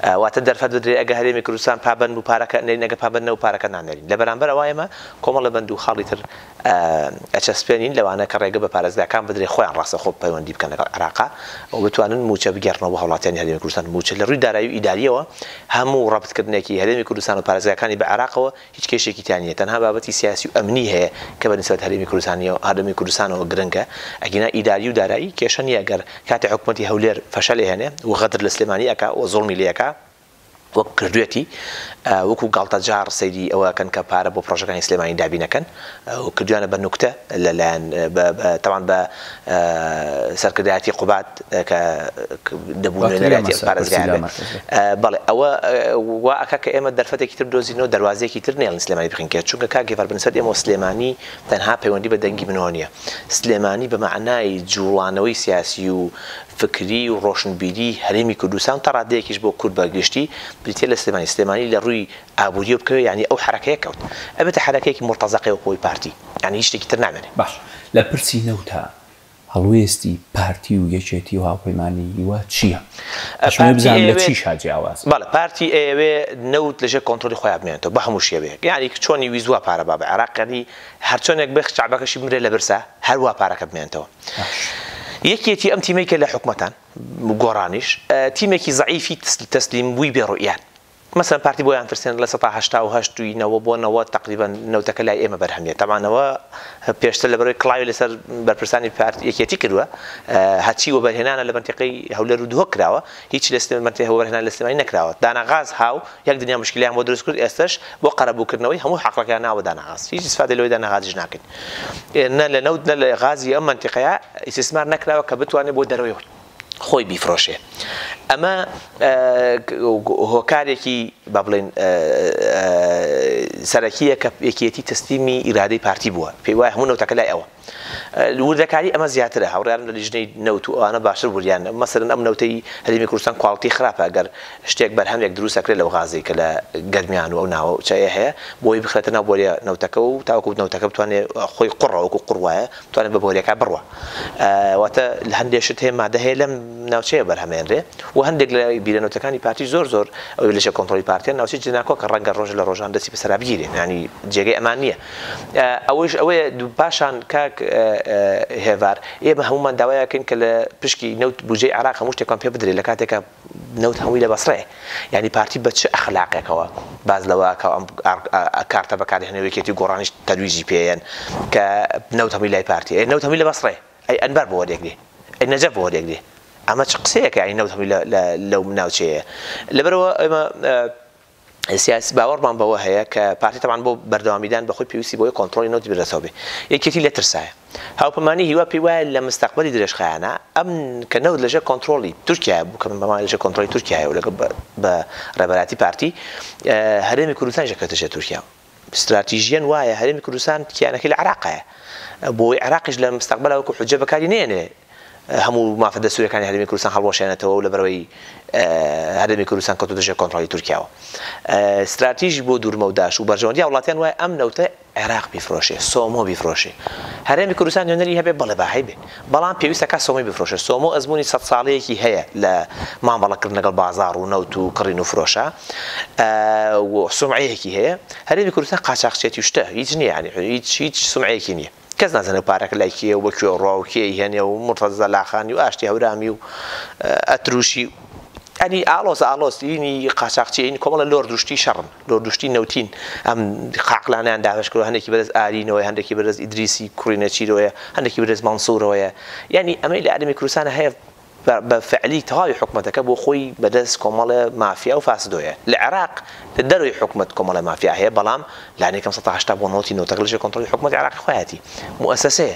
واتە دەرفەت بدرێ ئەگە هەرێمی کوردستان پابەند بوو پارەکە نێرین ئەگە پابەند نەبوو پارەکە نانێرین لە بەرامبەر ئەوە ئێمە کۆمەڵە بەند و خاڵی تر ئەچەسپێنین لەوانە کە ڕێگە بە پارێزگاکان بدرێ خۆیان ڕاستەخۆ پەیوەندی بکەن لەگەڵ عێراقا و بتوانن مووچە بگێڕنەوە بۆ هەوڵاتیانی هەرێمی کوردستان مووچە لە ڕووی دارایی و ئیدارییەوە هەموو ڕەبتکردنێکی هەرێمی کوردستان و پارێزگاکانی بە عێراقەوە هیچ کێشەیەکی تیا نییە تەنها بابەتی سیاسی و ئەمنی هەیە کە بەنیسبەت هەرێمی کوردستانیەوە هەرێمی کوردستانەوە گرنگە ئەگینا ئیداری و دارایی کێشە نییە گەر کاتێ حکومەتی هەولێر فەشەلی هەنێ و غەدر لە سلێمانی ئەکا و زوڵمی لێ ئەکا وەک کردوێتی وەکو گاڵتەجاڕ سەیری ئەوە ئەکەن کە پارە بۆ پڕۆژەکانی سلێمانی دابین ئەکەن. و کردویانە بە نوکتە لە لایەن بە بە تەبان بە سەرکردایەتی قوباد کە ک دەبوو نوێنەرایەتی ئەم پارێزگایە بێ بەڵێ ئەوە وا ئەکا کە ئێمە دەرفەتێکی تر بدۆزینەوە دەروازەیەکی تر نێڵن سلێمانی بخەین کێ چونکە کاک گیڤار بنسبەت ئێمەوە سلێمانی تەنها پەیوەندی بە دەنگی منەوە نیە سلێمانی بە مەعنای جوڵانەوەی سیاسی و فکری و ڕۆشنبیری هەرێمی کوردستان و تا ڕادەیەکیش بۆ کورد بە گشتی بریتیە لە سلێمانی سلێمانی لە ڕووی ئابوریە بکەوێ یانی ئەو حەرەکەیە کەوت ئەبێتە حەرەکەیەکی مورتەزەقەی وەکو ئەوی پارتی یانی هیچ شتێکی تر نامێنێ. باشە لە پرسی نەوتا هەڵوێستی پارتی و یەکێتی و هاوپەیمانانی هیوا چیە؟ ئەشمەوێ بزانم لە چیشا جیاوازن؟ بەڵێ پارتی ئەیەوێ نەوت لەژێر کۆنترۆلی خۆیا بمێنێتەوە بە هەموو شێوەیەک یانی چۆنی ویست وا پارە بابە عێراق یانی هەرچۆنێک بێ شەعبەکەشی بمرێ لە برسا هەروا پارەکە بمێنێتەوە یەکێتی ئەم تیمەی کە لە حکومەتان گۆڕانیش تیمێکی زەعیفی تەسلیم بووی بێ ڕوئیان مەسەلەن پارتی بۆیان ترسێنە لە سەتا هەشتا و هەشت ی نەوە بۆ نەوەد تەقریبەن نەوتەکە لای ئێمە بەرهەم یە تەبعا نەوە پێشتر لەبەرەوەی کڵاوی لەسەر بەرپرسانی پارتی یەکێتی کردوە هەرچی وەبەرهێنانە لە مەنتیقەی هەولێرو دهۆک کراوە هیچ لە سلێ مەنتێ وەبەرهێنان لە سلێمانی نەکراوە دانا غاز هاو یەک دنیا مشکلیان بۆ دروست کرد ئێستەش بۆ قەرەبوو کردنەوەی هەموو حەقڵەکەیان ناوە دانا غاز هیچ ئیسفادەی لەوەی دانا غازیش ناکەین نە لە نەوت نە لە غازی ئەم مەنتیقەیە ئیسیسمار نەکراوە کە بتوانێ بۆ دەرەوەی خۆی بیفرۆشێ ئەمە هۆکارێکی با بڵێن سەرەکیە کە یەکێتی تەسلیمی ئیرادەی پارتی بووە پێی وایە هەموو نەوتەکە لای ئەوە وردەکاری ئەمە زیاترە هاوڕیان لە لیژنەی نەوت و ئەوانە باشتر وریان مەسەرن ئەم نەوتەی هەرێمی کوردستان کواڵتی خراپە گەر شتێک بەرهەمێک دروست ئەکرێت لەو غازەی کە لە گەرمیان و ئەو ناوە چای هەیە بۆی بخرێتە ناو بۆریە نەوتەکە و تاوەکو نەوتەکە بتوانێت خۆی قوڕەوەکو قوڕ وایە توانێت بە بۆریەکە بڕوا واتە لە هەندێک شت هەیە مادە هەیە لەم ناوچەیە بەرهەمێنرێ و هەندێک لە بیرەنوتەکانی پارتی زۆر زۆر ئەو لەشە کۆنتترۆلی پارتیان ناوچی جناکۆ کە ڕەنگە ڕۆژ لە ڕۆژان دەستی بەسەرا بگیرێ ینی جێگەی ئەمان نییە ئەوەش ئەوەیە پاشان کاک هێوار ئێمە هەمومان داوایەکەین کە لە پشکی نەوت بجێ عراق هەموو شتێکان پێ بدرێت لە کاتێکە نەوت هەمووی لە بەسڕەیە یانی پارتی بە چ ئەخلاقێکەوە باس لەوە ئەکا ئەم کارتە بەکارهێنەوە یەکێتی و گۆڕانیش تەرویجی پێیەن کە نەوت هەمووی لای پارتیە ئەی نەوت هەمووی لە بەسڕەیە ئەی ئەنبار بۆ وەریەگرێ ئەی نەجەف بۆ وەریەگرێ ئەمە چ قسەیەکە یانی نەوت هەمووی لە لەو ناوچەیە لەبەرەوە ئێمە سیاسی باوەڕمان بەوە هەیە کە پارتی تەبعەن بۆ بەردەوامیدان بەخۆی پێویستی بەوەی کۆنتڕۆڵی نەوتی بردەسەوە بێ یەکێتی لێ ترسایە هاوپەمانی هیوا پێی وایە لە مستەقبەلی درێژخایەنە ئەم کە نەوت لەژێر کۆنتڕۆڵی تورکیایە بوو کە من بەمانی لەژێر کۆنتڕۆڵی تورکیایە و لەگەڵ بە ڕێبەراتی پارتی هەرێمی کوردستانیش دەکەوێتە ژێر تورکیا ستراتیژیەن وایە هەرێمی کوردستان کیانەکەی لە عراق هەیە بۆی عراقیش لە مستەقبەلا وەکو حوجە بەکاری نێنێ هەموو مافە دەستوریەکانی هەرمی کوردستان هەڵوەشێنێتەوە و لە بەرەوەی هەرمی کوردستان کەوتو دژێ کۆنتترۆلی تورکیاوە استراتیژی بۆ دوورمەوداش و بەرژەوەندی وڵاتیان وای ئەم نەوتە عێراق بیفرۆشێ سۆمۆ بیفرۆشێ هەرێمی کوردستان نوێنەری هەبێ بەڵێ باهی بێ بەڵام پێویستە کات سۆمۆی بفرۆشن، سۆمۆ ئەزموونی سەد ساڵەیەکی هەیە لە مامەڵەکردن لەگەڵ بازاڕ و نەوت و کڕین و فرۆشە و سومعەیەکی هەیە، هەرێمی کوردستان قاچاخچێتی و شتە، هیچ نییە یانی هیچ هیچ سومعەیەکی نییە، کەس نازانێ ئەو پارەکە لای کێیە و بۆ کوێ ڕا و کێی هەنێ و مورتەزە زەلاخانی و ئاشتی هەورامی و ئەتروشی و یانی ئاڵۆز ئاڵۆز یینی قاچاخچی یینی کۆمەڵە لۆرد و شتی شەڕن. دوردوشتی نەوتین ئەم قاقلانەیان دابەش کردوە هەندێکی بەرێز ئارینەوەیە هەندێکی بەرێز ئیدریسی کوڕی نەچیرەوەیە هەندێکی بەرێز مەنسورەوەیە یانی ئەمەی لە ئەرێمی کوردستانە هەیە بە فعلی تەواوی حکومەتەکە بۆ خۆی بەدەست کۆمەڵێ مافیا و فاسدۆیە لە عێراق لە دەروی حکومەت کۆمەڵی مافیا هەیە بەڵام لانێکم 1970 بۆ نۆتی نۆتەکە لەژێ کۆنتڕۆلی حکومەتی عێراقی خۆیاتی موسسەیە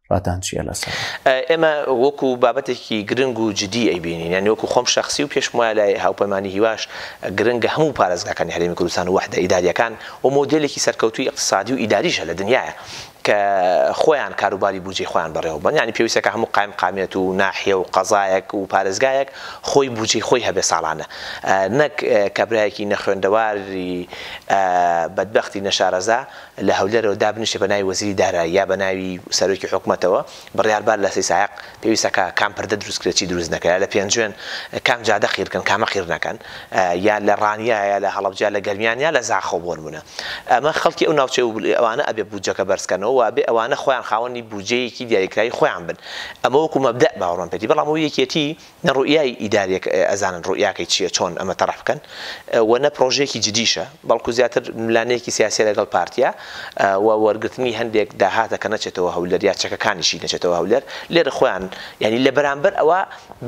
ڕاتان چیە لەسەر؟ ئێمە وەکو بابەتێکی گرنگ و جدی ئەیبینین یانی وەکو خۆم شەخسی و پێشم وایە لای هاوپەیمانی هیواش گرنگە هەموو پارێزگاکانی هەرێمی کوردستان و وەحدە ئیدارییەکان و مۆدێلێکی سەرکەوتووی ئیقتسادی و ئیداریشە لە دنیایە کە خۆیان کاروباری بوجەی خۆیان بەڕێوەبەن یانی پێویستە کە هەموو قایمقامیەت و ناحیە و قەزایەک و پارێزگایەک خۆی بوجەی خۆی هەبێ ساڵانە نەک کابرایەکی نەخوێندەواری بەدبەختی نەشارەزا لە هەولێرەوە دابنیشێ بەناوی وەزیری دارایی یا بەناوی سەرۆکی حکومەتەوە بڕیار با لە سیسایەق پێویستە کە کام پردە دروست کرێ چی دروست نەکرێ لە پێنجوێن کام جادە قیر کەن کامە قیر نەکەن یا لە ڕانیە یا لە هەڵەبجە لە گەرمیان یا لە زاخۆ بۆ نمونە ئەمە خەڵکی ئەو ناوچەی و ئەوانە ئەبێ بودجەکە بەرز کەنەوە و ئەبێ ئەوانە خۆیان خاوەنی بودجەیەکی دیاریکراوی خۆیان بن ئەمە وەکو مەبدەئ باوەڕمان پێتی بەڵام ئەو یەکێتی نە ڕوئیای ئیداریەک ئەزانن ڕوئیاکەی چیە چۆن ئەمە تەڕح بکەن و نە پڕۆژەیەکی جدیشە بەڵکو زیاتر ملانەیەکی سیاسیە لەگەڵ پارتیا و وەرگرتنی هەندێک داهاتە کە نەچێتەوە هەولێر یا چەکەکانیشی نەچێتەوە هەولێر لێرە خۆیان یانی لە بەرامبەر ئەوە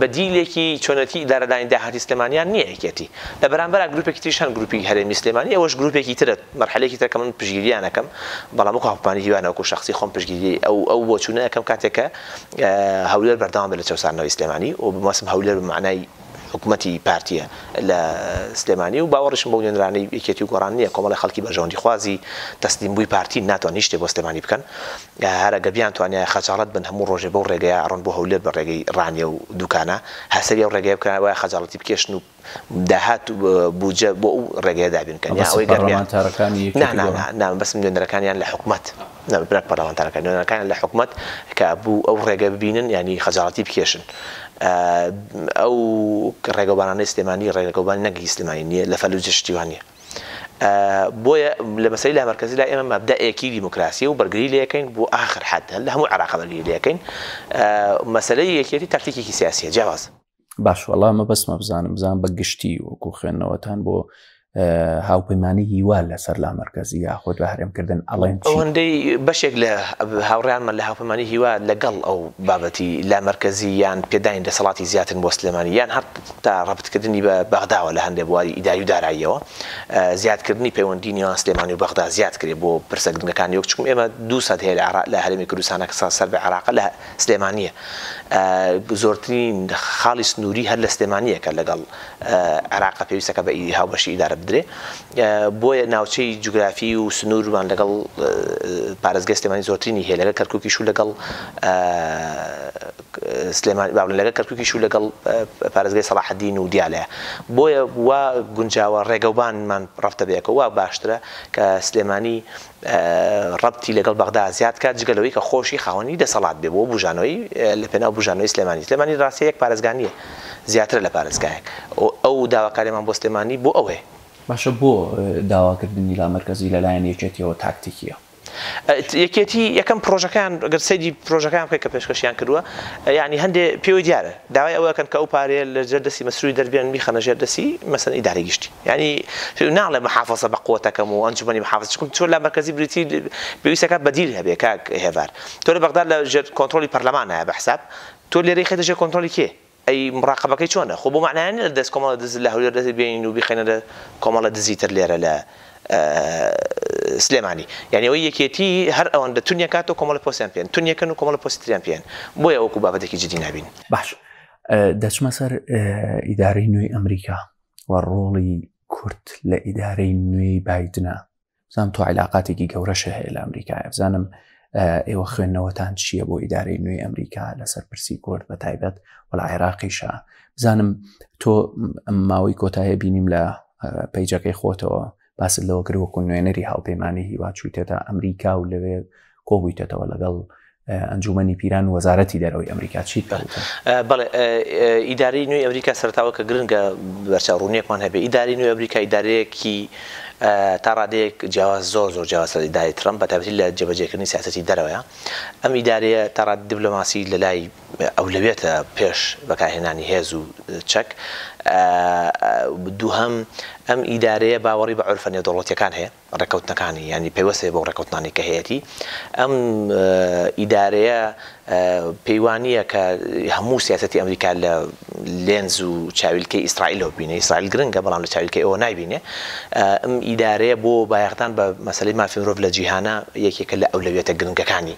بەدیلێکی چۆنێتی ئیدارەدانی داهاتی سلێمانیان نیە یەکێتی لە بەرامبەرا گروپێکی تریش هەن گروپی هەرێمی سلێمانی ئەوەش گروپێکی ترە مەرحەلەیەکی ترە کە من پشتگیریان ئەکەم بەڵام وەکو هەڤپانی هیوا نەوەکو شەخسی خۆم پشتگیری ئەو ئەو بۆچونە ئەکەم کاتێک کە هەولێر بەردەوام بێت لە چەوساندنەوەی سلێمانی و بمەسم هەولێر بە مەعنای حکومەتی پارتیە لە سلێمانی و باوەڕیشم بەو نوێنرانەی یەکێتی و گۆڕان نییە کۆمەڵی خەڵکی بەرژەوەندیخوازی تەسلیمبووی پارتین ناتوان هیچ شتێ بۆ سلێمانی بکەن هەر ئەگە بیانتوانیایە خەجاڵەت بن هەموو ڕۆژێ بەو ڕێگەیە ئەڕۆن بۆ هەولێر بە ڕێگەی ڕانیە و دوکانە هەر سەری ئەو ڕێگەیە بکەن وایە خەجاڵەتی بکێشن و داهات و بودجە بۆ ئەو ڕێگەیە دابین بکەن یا ئەوەی گەرمیان بەسە پەڕلەمانتارەکانی یەکێتی گەڵا نا نا نا بەس نوێنەرەکانیان لە حکومەت نەبێت براک پەڕلەمانتارەکان نوێنەرەکانیان لە حکومەت کە بوو ئەو ڕێگە ببینن یانی خەجاڵەتی بکێشن ئەو ڕێگەوبانانەی سلێمانی ڕێگەوبان نەگری سلێمانی نییە لە فەلوجە شتی وا نییە بۆیە لە مەسەی لا مەرکەزی لا ئێمە مەبدا ئێکی دیموکراسیە و بەرگری لەکەین بۆ ئاخر حد هەل لە هەموو عراق بەرگری لەکەین مەسەلەی یەکێتی تاکتیکێکی سیاسیە جیاوازە. باش وەڵا مەبەستمە بزانم بزان بە گشتی وەکو خوێندنەوەتان بۆ هاوپەیمانانی هیوا لەسەر لا مرکزی یاخود بە هەرێمکردن ئەڵێن ئەوەندەی بەشێک لە هاوڕیانمان لە هاوپەمانی هیوا لەگەڵ ئەو بابەتی لا مرکزی یان پێدانی دەسەڵاتی زیاتر بۆ سلێمانی یان هەر تا ڕبتکردنی بە بەغداوە لە هەندێک بواری ئیداری و داراییەوە زیادکردنی پەیوەندی نیوان سلێمانی و بەغدا زیاد کرێ بۆ پرسە گرنگەکانی وەک چکم ئێمە دوو سەد هەیە لە عراق لە هەرێمی کوردستانە کە سەر بە عراق لە سلێمانییە زۆرترین خاڵی سنووری هەر لە سلێمانییە کە لەگەڵ عێراقە پێویستەکە بە هاوبەشی ئیدارە بدرێ بۆیە ناوچەی جوگرافی و سنوورمان لەگەڵ پارێزگای سلێمانی زۆرترینی هەیە لەگەڵ کەرکوکیش و لەگەڵ سلێمانی باڵن لەگەڵ کەرکوکیش و لەگەڵ پارێزگای سەڵاحەدین و دیالەیە بۆیە وا گونجاوە ڕێگەوبانمان ڕەفتە بەیەکەوە وا باشترە کە سلێمانی ڕەبتی لەگەڵ بەغدا زیاد کات جگە لەوەی کە خۆشی خاوەنی دەسەڵات بێ بۆ بوژانەوەی لە پێناو بوژانەوەی سلێمانی سلێمانی ڕاستە یەک پارێزگا نیە زیاترە لە پارێزگایەک ئەو داواکاریەمان بۆ سلێمانی بۆ ئەوەیە. باشە بۆ داواکردنی لامەرکەزی لەلایەن یەکێتیەوە تاکتیکیە؟ یەکێتی یەکەم پرۆژەکەیان گەر سەیری پرۆژەکەیان بکەی کە پێشکەشیان کردوە یانی هەندێ پێوەی دیارە داوای ئەوەکەن کە ئەو پارەیە لە ژێر دەستی مەسروری دەربێن بیخەنە ژێر دەستی مەسەن ئیدارەی گشتی. یانی ناڵێ محافەزە بە قوتەکەم و ئەنجومەنی محافەزە چکم چۆن لە مەرکەزی بریتی پێویستەکە بەدیل هەبێ کاک هێڤار تۆ لە بەغداد لە ژێر کۆنترۆلی پەرلەمانە بە حساب تۆ لێرەی خێتە ژێر کۆنترۆلی کێ ئەی مڕاقەبەکەی چۆنە خۆ بۆ مەعنایە نیە لە دەست کۆمەڵە دز لە هەولێر دەست بێنین و بیخەینە لە کۆمەڵە دزی تر لێرە لە سلێمانی یانی ئەوەی یەکێتی هەر ئەوەندە تونیە کات و کۆمەڵی پۆستیان پێن تونیەکەن و کۆمەڵە پۆستی تریان پێن بۆیە وەکو بابەتێکی جدی نابین باش دەچمە سەر ئیدارەی نوێی ئەمریکا و ڕۆڵی کورد لە ئیدارەی نوێی بایدنا بزانم تۆ عیلاقاتێکی گەورەشە هەیە لە ئەمریکایە بزانم ئێوە خوێندنەوەتان چییە بۆ ئیدارەی نوێی ئەمریکا لەسەر پرسی کورد بە تایبەت و لە عێراقیشە بزانم تۆ ماوەی کۆتایە بینیم لە پەیجەکەی خۆتەوە باست لەوە کرد وەکو نوێنەری هاوپەیمانی هیوا چوویتێتە ئەمریکا و لەوێ کۆبوویتەتەوە لەگەڵ ئەنجومەنی پیران وەزارەتی دەرەوەی ئەمریکا چیت بەڵێ ئیداری نوێی ئەمریکا سەرتاوە کە گرنگە بەرچە ڕوونیەکمان هەبێ ئیداری نوێ ئەمریکا ئیدارەیەکی تا ڕادەیەک جیاواز زۆر زۆر جیاواز لە ئیداری ترەمپ بە تابەتی لە جێبەجێکردنی سیاستی دەرەوەە ئەم ئیدارەیە تاڕات دیبلۆماسی لە لای ئەولەویەتە پێش بەکارهێنانی هێز و چەک. دووهەم، ئەم ئیدارەیە باوەڕی بە عورفە نێودەوڵەتییەکان هەیە، ڕێککەوتنەکانی، یانی پەیوەست هەیە بەو ڕێککەوتنانەی کە هەیەتی. ئەم ئیدارەیە پێی وا نییە کە هەموو سیاسەتی ئەمریکا لە لێنز و چاویلکەی ئیسرائیلەوە ببینێ، ئیسرائیل گرنگە بەڵام لە چاویلکەی ئەوە نایبینێ. ئەم ئیدارەیە بۆ بایەخدان بە مەسەلەی مافی مرۆڤ لە جیهانا یەکێکە لە ئەولەویەتە گرنگەکانی.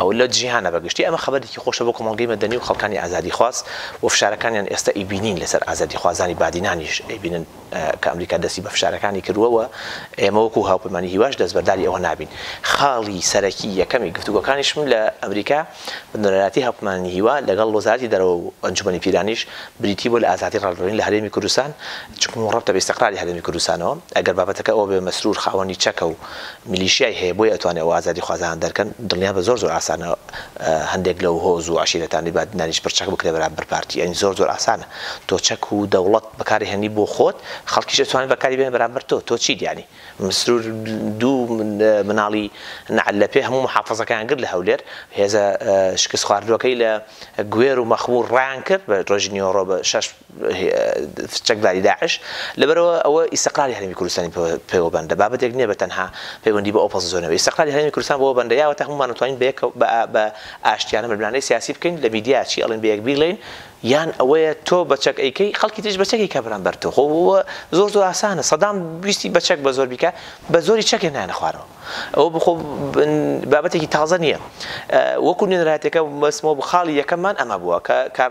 و لە جیهانە بە گشتی، ئەمە خەبەرێکی خۆشە بۆ کۆمەڵگەی مەدەنی و خەڵکانی ئازادیخواز و فشارەکانیان ئێستا ئەیبینین لەسەر ئازادیخوازانی بادینانیش ئەیبینن کە ئەمریکا دەستی بە فشارەکانی کردووە و ئێمە وەکو هاوپەیمانی هیواش دەستبەرداری ئەوە نابین خاڵی سەرەکی یەکەمی گفتوگۆکانیشم لە ئەمریکا بە نوێنەرایەتی هاوپەیمانی هیوا لەگەڵ وەزارەتی دەرەوە و ئەنجومەنی پیرانیش بریتی بووە لە ئازادی ڕاگەیاندن لە هەرێمی کوردستان چونکە مورەبتە بە ئیستیقراری هەرێمی کوردستانەوە ئەگەر بابەتەکە ئەوە بێت مەسرور خاوەنی چەکە و میلیشیای هەیە بۆیە ئەتوانێ ئەو ئازادی خوازانە دەرکەن دڵنیابە زۆر زۆر ئاسانە هەندێک لەو هۆز و عەشیرەتانەی بادینانیش پڕ چەک بکرێ بەرامبەر پارتی یانی زۆر زۆر ئاسانە تۆ چەک و دەوڵەت بەکاری هێنی بۆ خۆت خەڵکیش ئەتوانێ بەکاری بێنێ بەرامبەر تۆ تۆ چیت یانی مسرور دوو مناڵی نەعل لەپێ هەموو محافەزەکەیان گرت لە هەولێر هێزە شکست خواردوەکەی لە گوێر و مەخمور ڕایان کرد بە ڕۆژی نیوەڕۆ بە شەش چەکداری داعش، لەبەرئەوە ئەوە ئیستقراری هەرێمی کوردستانی پێوە بەندە، بابەتێک نییە بە تەنها پەیوەندی بە ئۆپەس زۆنەوە، ئیستقراری هەرێمی کوردستان بەوە بەندە، یاوەتا هەموومان ئەتوانین بەیەکەوە بە ئاشتیانە ململانێی سیاسی بکەین، لە میدیا چی ئەڵێین بەیەک بیڵێین، یان ئەوەیە تۆ بە چەک ئەیکەی خەڵکی تریش بە چەک ئەیکا بەرامبەر تۆ، خۆ ئەوە زۆر زۆر ئاسانە، سەدام ویستی بە چەک بە زۆر بیکا، بە زۆری چەک هێنایانە خوارەوە. ئەوە بخۆ بابەتێکی تازە نییە وەکو نوێنەرایەتەکە بەسمەوە خاڵی یەکەممان ئەمە بووە کە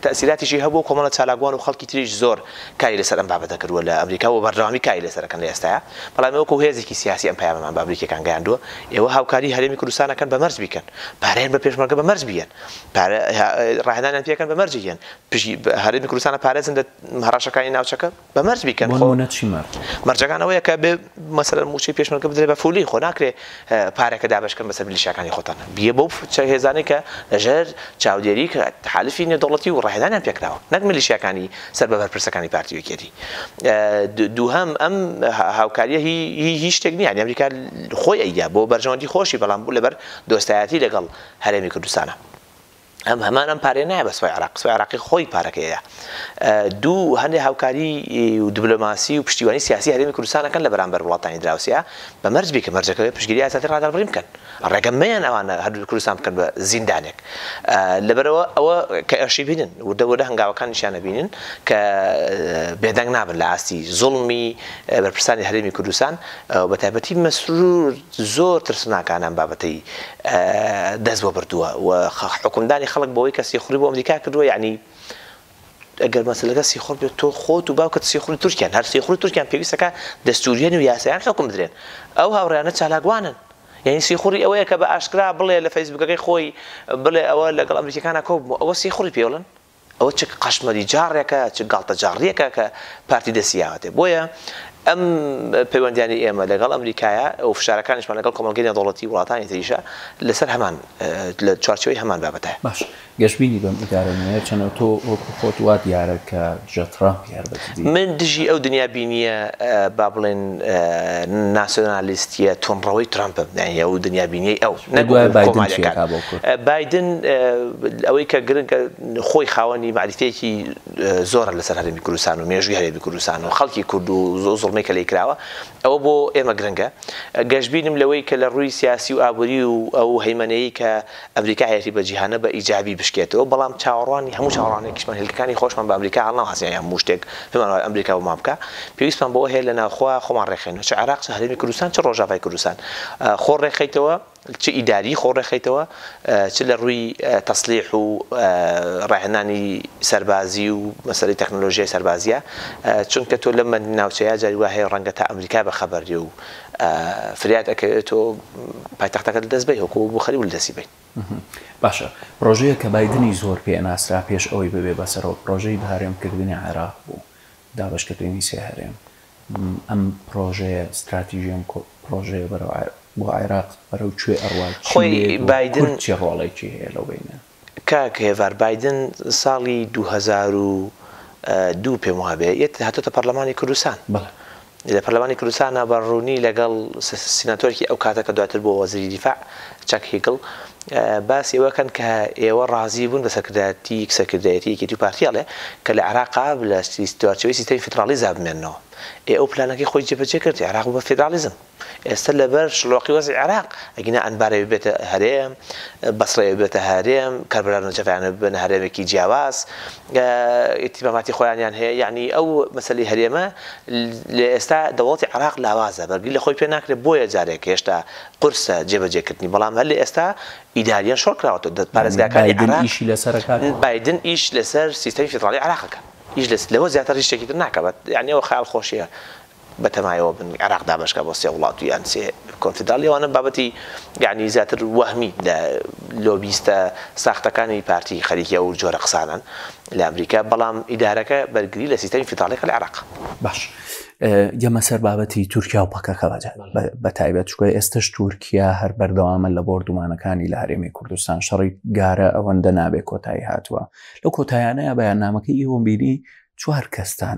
تەسیلاتیشی هەبوو کۆمەڵە چالاکوان و خەڵکی تریش زۆر کاری لەسەر ئەم بابەتە کردووە لە ئەمریکا و بەردەوامی کاری لەسەرەکەن لە ئێستاە بەڵام وەکو هێزێکی سیاسی ئەم پەیامەمان بە ئەمریکیەکان گەیاندووە ئێوە هاوکاری هەرێمی کوردستانەکەن بە مەرج بیکەن پارەیان بە پێشمەرگە بە مەرج بیەن ڕاهێنانیان پێکەن بە مەرجیان پشی هەرێمی کوردستانە پارێزن لە هەڕەشەکانی ناوچەکە بە مەرج بیکەن خۆ بۆنمونە چی مەر. مەرجەکان ئەوەیە کە بێ مەسەلەن موچەی پێشمەرگە بدرێ بە فولی خۆ ناکرێ پارەکە دابەشکەن بەسەر ملیشاکانی خۆتان بیە بەو هێزانەی کە لەژێر چاودێری کە تحالفی نێودەوڵەتی و ڕاهێنانیان پێکراوە نەک ملیشیاکانی سەر بە بەرپرسەکانی پارتی وەکێتی دووهەم ئەم هاوکاریە هی هیچ شتێک نییە ئەمریکا خۆی ئەیدا بۆ بەرژەوەندی خۆشی بەڵام بوو لەبەر دۆستایەتی لەگەڵ هەرێمی کوردستانە ئەم هەمان ئەم پارەیە نایە بە سوپای عێراق، سوپای عێراقی خۆی پارەکەیە. دوو، هەندێ هاوکاری و دبلۆماسی و پشتیوانی سیاسی هەرێمی کوردستان ئەکەن لە بەرامبەر وڵاتانی دراوسێ، بە مەرج بیکە مەرجەکە بێ پشتگیری ئازادی ڕادەربڕین بکەن. ڕێگە مەیەن ئەوانە هەر دوو کوردستان بکەن بە زیندانێک. لەبەرئەوە ئەوە کە ئێشی بینن، وردە وردە هەنگاوەکانیشیان ئەبینن کە بێدەنگ نابن لە ئاستی زوڵمی بەرپرسانی هەرێمی کوردستان و بە تایبەتی مەسرور زۆر ترسناکانە ئەم بابەتەی دەست بۆ بردووە و حوکمدانی خەڵک بەوەی کە سیخوڕی بۆ ئەمریکا کردووە یەعنی ئەگەر مەسەلەکە سیخوڕ بێت تۆ خۆت و باوکت سیخوڕی تورکیان هەر سیخوڕی تورکیان پێویستە کە دەستووریەن و یاسایان حوکم بدرێن ئەو هاوڕێیانە چالاکوانن یەعنی سیخوڕی ئەوەیە کە بە ئاشکرا بڵێ لە فەیسبووکەکەی خۆی بڵێ ئەوە لەگەڵ ئەمریکیەکانا کۆببووە ئەوە سیخوڕی پێوڵن ئەوە چ قەشمەری جاڕێکە چ گاڵتە جاڕیەکە کە پارتی دەستی یاوەتێ بۆیە ئەم پەیوەندیانی ئێمە لەگەڵ ئەمریکایە ئەو فشارەکانیشمان لەگەڵ کۆمەڵگەی نێودەوڵەتی وڵاتانی تریشە لەسەر هەمان لە چوارچێوەی هەمان بابەتە. باش گەشبینی بەم ئیدارە نوێیە چەنەوە تۆ وەکو خۆت وا دیارە کە دژە تڕەمپ من دژی ئەو دنیا بینییە با بڵێن ناسیۆنالیستییە توندڕەوەی ترەمپم، یانی ئەو دنیا بینییەی ئەو، نەک کۆمارییەکان. بایدن ئەوەی کە گرنگە خۆی خاوەنی مەعریفەیەکی زۆرە لەسەر هەرێمی کوردستان و مێژووی هەرێمی کوردستان و خەڵکی کورد و زوڵمەی کە لێی کراوە، ئەوە بۆ ئێمە گرنگە. گەشبینم لەوەی کە لە ڕووی سیاسی و ئابووری و ئەو هەیمەنەیەی کە ئەمریکا هەیەتی بە جیهانە بە ئیجابی بشکێتەوە، بەڵام چاوەڕوانی هەموو چاوەڕوانێکیشمان هێلکەکانی خۆشمان بە ئەمریکا هەڵناواسین یان هەموو شتێک پێمان وایە ئەمریکا بۆمان بکا، پێویستمان بەوە هەیە لە ناوخۆ خۆمان ڕێکخەینەوە چ عێراق چ هەرێمی کوردستان چ ڕۆژاڤای کوردستان خۆ ڕێکخەیتەوە. چ ئیداریی خۆ ڕێکخەیتەوە، چ لە ڕووی تەسلیح و ڕاهێنانی سەربازی و مەسەلەی تەکنۆلۆژیای سەربازییە، چونکە تۆ لەم ناوچەیە جاری وا هەیە ڕەنگە تا ئەمریکا بە خەبەر بێ و فریات ئەکەوێ تۆ پایتەختەکەت لە دەست بەی وەکوو ئەبوو خەلیب لە دەستی بەی. باشە، پڕۆژەیەک کە بایدنی زۆر پێ ناسرا پێش ئەوەی ببێ بە سەرۆک، پڕۆژەی بەهەرێم کردنی عێراق بوو، دابەشکردنی سێ هەرێم، ئەم پرۆژەیە ستراتیژی ئەم پرۆژەیە بەرەو بۆ عێراق بەرەو کوێ ئەڕوا چی لێیەت و کورد چی ڕۆڵێکی هەیە لەو بینە؟ کاک هێڤار بایدن ساڵی دوو هەزار و دوو پێم وابێ یەت هاتۆتە پەڕلەمانی کوردستان لە پەرلەمانی کوردستانا بە ڕوونی لەگەڵ سیناتۆرکی ئەو کاتە کە دواتر بووە وەزیری دیفاع چاک هیگڵ، باسی ئەوە کەن کە ئێوە ڕازی بوون بە سەرکردایەتی سەرکردایەتی یەکێتی و پارتی ئەڵێ کە لە عێراقا لە چوارچێوەی سیستەمی فیدڕاڵیزا بمێننەوە. ئێ ئەو پلانەکەی خۆی جێبەجێ کرد عێراق بوو بە فیدڕاڵیزم. ئێستە لە بەر شڵۆقی وەزعی عێراق ئەگینا ئەنبارێ ببێتە هەرێم، بەسڕێ ببێتە هەرێم، کەربەلا و نەجەفیانە ببنە هەرێمێکی جیاواز، ئیتیماماتی خۆیانیان هەیە. یەعنی ئەو مەسەلەی هەرێمە لە ئێستا دەوڵەتی عێراق لاوازە بەرگری لە خۆی پێ ناکرێ بۆیە جارێک هێشتا قورسە جێبەجێ کردنی بەڵام هەر لە ئێستا ئیداریەن شۆڕ کراوەتەوە پارێزگاکانی عێراق. بایدن ئیشی لەسەر ئەکات؟ بایدن ئیش لەسەر سیستەمی فیدڕاڵی عێراق ئەکات. ئیش لەس لەوە زیاتر هیچ شتێکی تر ناکات. یانی ئەوە خەیاڵ خۆشیە بە تەمایەوە بن عێراق دابەش کات بۆ سێ وڵات و یان سێ کۆنفیدڕاڵی ئەوانە بابەتی یانی زیاتر وەهمی لە لۆبیستە ساختەکانی پارتی خەریکی ئەو جۆرە قسانەن. لە ئەمریکا بەڵام ئیدارەکە بەرگری لە سیستەمی فیدڕاڵیەکە لە عێراق. باش گەمە سەر بابەتی تورکیا و پەکەکە بەجە بە تایبەت چکە ئێستش تورکیا هەر بەردەوامە لە بۆردومانەکانی لە هەرێمی کوردستان شەڕی گارە ئەوەندە نابێ کۆتایی هاتووە لە کۆتایانەیە بەیان نامەکە ئیوەمبیری چوار کەستان